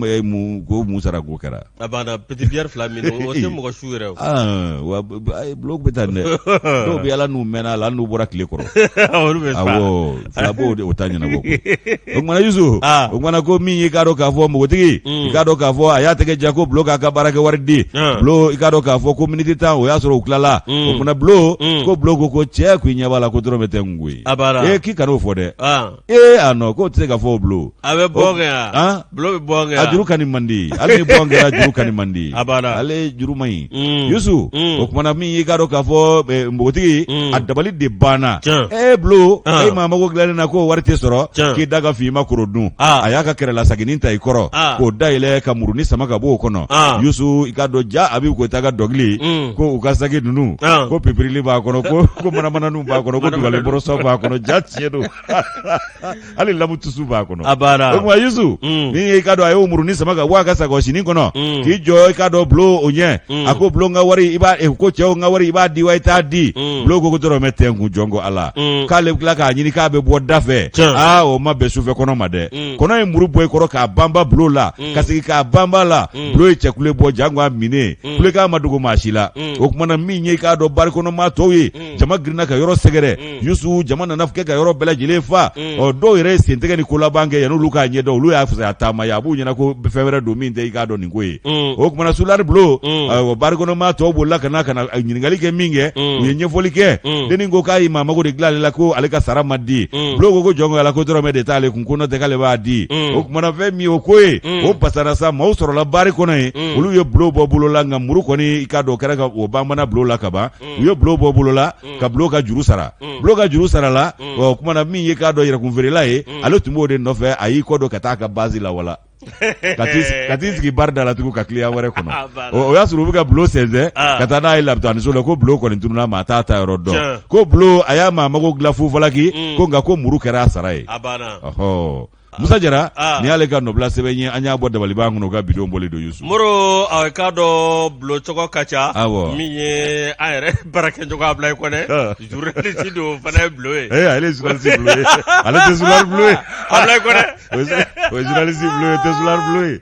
ko mun sara ko kɛra a banna petite bière fila min o tɛ mɔgɔ su yɛrɛ wa bulo bɛ taa dɛ dɔw bɛ a la n'u mɛnna la n'u bɔra tile kɔrɔ de o ta ɲɛnabɔ o tumana yusu o tumana ko min y'i k'a dɔn k'a fɔ npogotigi i k'a dɔn k'a fɔ a y'a tɛgɛ jan ko bulo k'a ka baarakɛwari di i k'a dɔn k'a fɔ ko miniti tan o y'a sɔrɔ u tilala o tumana bulo ko bulo ko ko cɛ k'i ɲɛ b'a la ko dɔrɔmɛ tɛ n koyi a k'i᱾ ee a nɔ k'o tɛ se ka fɔ o bulo a bɛ bo kɛ yan han? bulo bɛ bo kɛ a yan jurukani man di hali ni bo kɛra jurukani man di A b'a la. ale ye juru man ɲi Mm. yusu Mm. o kumana min y'i k'a dɔn k'a fɔ eh, npogotigi Mm. a dabali de banna Tiɲɛ. ee bulo Ah. e maa mago dilannen na k'o wari tɛ sɔrɔ Tiɲɛ. k'i da ka fin i ma koro dun Ah. a y'a ka kɛrɛlasaginin ta i kɔrɔ Ah. k'o dayɛlɛ ka muruni sama ka bɔ o kɔnɔ Ah. yusu i k'a dɔn ja a bɛ ko ta ka dɔnkili Mm. ko u ka sagi ninnu Ah. ko pipirili b'a kɔnɔ ko ko manamananiw b'a kɔnɔ ko dugalen bɔrɔsɔ b'a kɔnɔ ja tiɲɛ don hali lamu tusu b'a kɔnɔ a banna o tuma Yusu Mm. min ye i k'a dɔn a y'o muruni sama ka bɔ a ka sakosinin kɔnɔ Mm. k'i jɔ i k'a dɔn bulo ɲɛ Mm. a ko bulo n ka wari i b'a eh, ko cɛ n ka wari i b'a di wa i t'a di Mm. bulo ko ko dɔrɔmɛ tɛ n kun jɔn ko ala Mm. k'ale bɛ tila k'a ɲini k'a bɛ bɔ da fɛ Tiɲɛ. aa o ma bɛn sufɛkɔnɔ ma dɛ Mm. kɔnɔ ye muru bɔ i kɔrɔ k'a banba bulo la Mm. ka segin k'a banb'a la Mm. bulo ye cɛkule bɔ jango a minen Mm. kulekan ma dogo maa si la Mm. o tumana min ye i k'a dɔn bari kɔnɔ maa tɔw ye Mm. jama girinna ka yɔrɔ sɛgɛrɛ Yusu jama nana kɛ ka yɔrɔ bɛɛ lajɛlen fa ɔ dɔw yɛrɛ ye sentigɛ ni kolabankɛ yan'olu k'a ɲɛdɔn olu y'a fisaya taama ye a b'u ɲɛna ko fɛn wɛrɛ don min tɛ i k'a dɔn nin ko ye o kumana sulari Bulo bari kɔnɔ maa tɔw bolila ka na ɲininkali kɛ min kɛ u ye ɲɛfɔli kɛ dennin ko k'a ye maa mago de dilan ale la ko ale ka sara ma di Bulo ko jɔn ko Ala ko dɔrɔmɛ de t'ale kun ko n'o tɛ ale b'a di o kumana fɛn min o ko ye o pasara sa maaw sɔrɔla bari kɔnɔ ye olu ye Bulo bɔ bolo la nka muru kɔni i k'a dɔn o kɛra ka o banban Bulo la kaban u ye Bulo bɔ bolo la ka Bulo ka juru sara Bulo ka juru sara la o kumana min ye k'a dɔn yɛrɛkun feerela ye ale tun b'o de nɔfɛ a y'i kɔ don ka taa a ka base la wala ka t'i sigi- ka t'i sigi bari da la tugun ka kiliyan wɛrɛ kɔnɔ Ah, voilà. o o y'a sɔrɔ u bɛ ka Bulo sɛnsɛn Ah. ka taa n'a ye labitaniso la ko Bulo kɔni tununa maa t'a taayɔrɔ Tiɲɛ. dɔn ko Bulo a y'a maa mago dilan fufalaki ko nka ko muru kɛra a sara ye a banna ɔhɔ Musa Jara aa nin y'ale ka nɔbila sɛbɛn ye an y'a bɔ dabaliban kɔnɔ o ka vidéo bɔlen don Youssou Moro a k'a dɔn Bulo cogo ka ca Awɔ. min ye an yɛrɛ baarakɛɲɔgɔn Ablaye Kɔnɛ Ah. journaliste don o fana ye Bulo ye ee ale ye journaliste bleu ye ale tɛ soulard bleu ye Ablaye Kɔnɛ o ye o ye journaliste bleu ye o tɛ soulard bleu ye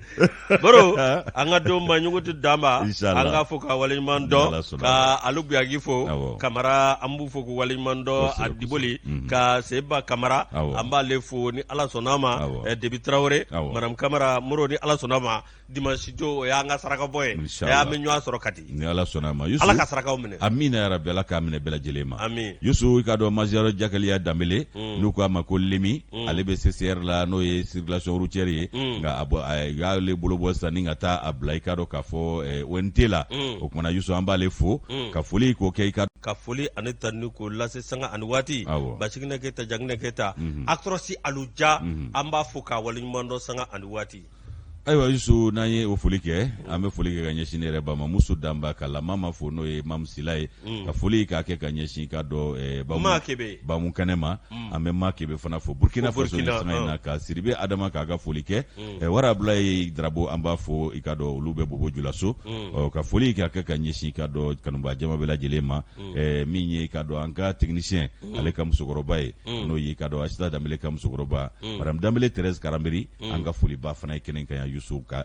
moro an ka don ma ɲugu tɛ danba an k'a fo k'a waleɲuman dɔn ka alu buyagi fo kamara an b'u fo k'u waleɲuman dɔn a diboli mhm. ka seba kamara an b'ale fo ni ala sɔnna ma eh, debi tarawele madame kamara moro ni ala sɔnna ma dimansidon o y'an ka sarakabɔ ye an bɛ ɲɔgɔn sɔrɔ kati ni ala sɔnna a ma yusu ala ka sarakaw minɛ amiina yarabi ala k'a minɛ bɛɛ lajɛlen ma amin yusu i k'a dɔn major jakaliya danbele mm. n'u k'a ma ko lemi mm. ale bɛ ccr la n'o ye circulation routière ye mm. nka a bɔ a y'ale bolo bɔ sisan ni ka taa a bila i k'a dɔn k'a fɔ eh, ont la o kumana yusu an b'ale fo ka foli k'o kɛ i ka ka foli ani tanu k'o lase sanga ani waati basiginɛ keyita jaginɛ keyita mhm. actros alu ja mhm. an b'a fo k'a waleɲuman dɔn sanga ani waati ayiwa yusu n'an ye o foli kɛ an bɛ foli kɛ ka ɲɛsin ne yɛrɛ ba ma musu danba ka lama ma fo n'o ye mamu sila ye mm. ka foli k'a kɛ ka ɲɛsin k'a dɔn eh, bamu kɛnɛ ma mm. an bɛ ma kebe fana fo burkina faso ni sanga in na ka sidibe adama k'a ka foli kɛ mm. eh, wara abulaye darabo an b'a fo i k'a dɔn olu bɛ bobo julaso ka foli k'a kɛ ka ɲɛsin k'a dɔn kanubaa jama bɛɛ lajɛlen ma eh, min ye k'a dɔn an ka technicien ale ka musokɔrɔba ye n'o ye k'a dɔn asita danbele ka musokɔrɔba madame danbele therese karambiri mm. an ka foliba fana ye kɛnɛ kan yan Yusu ka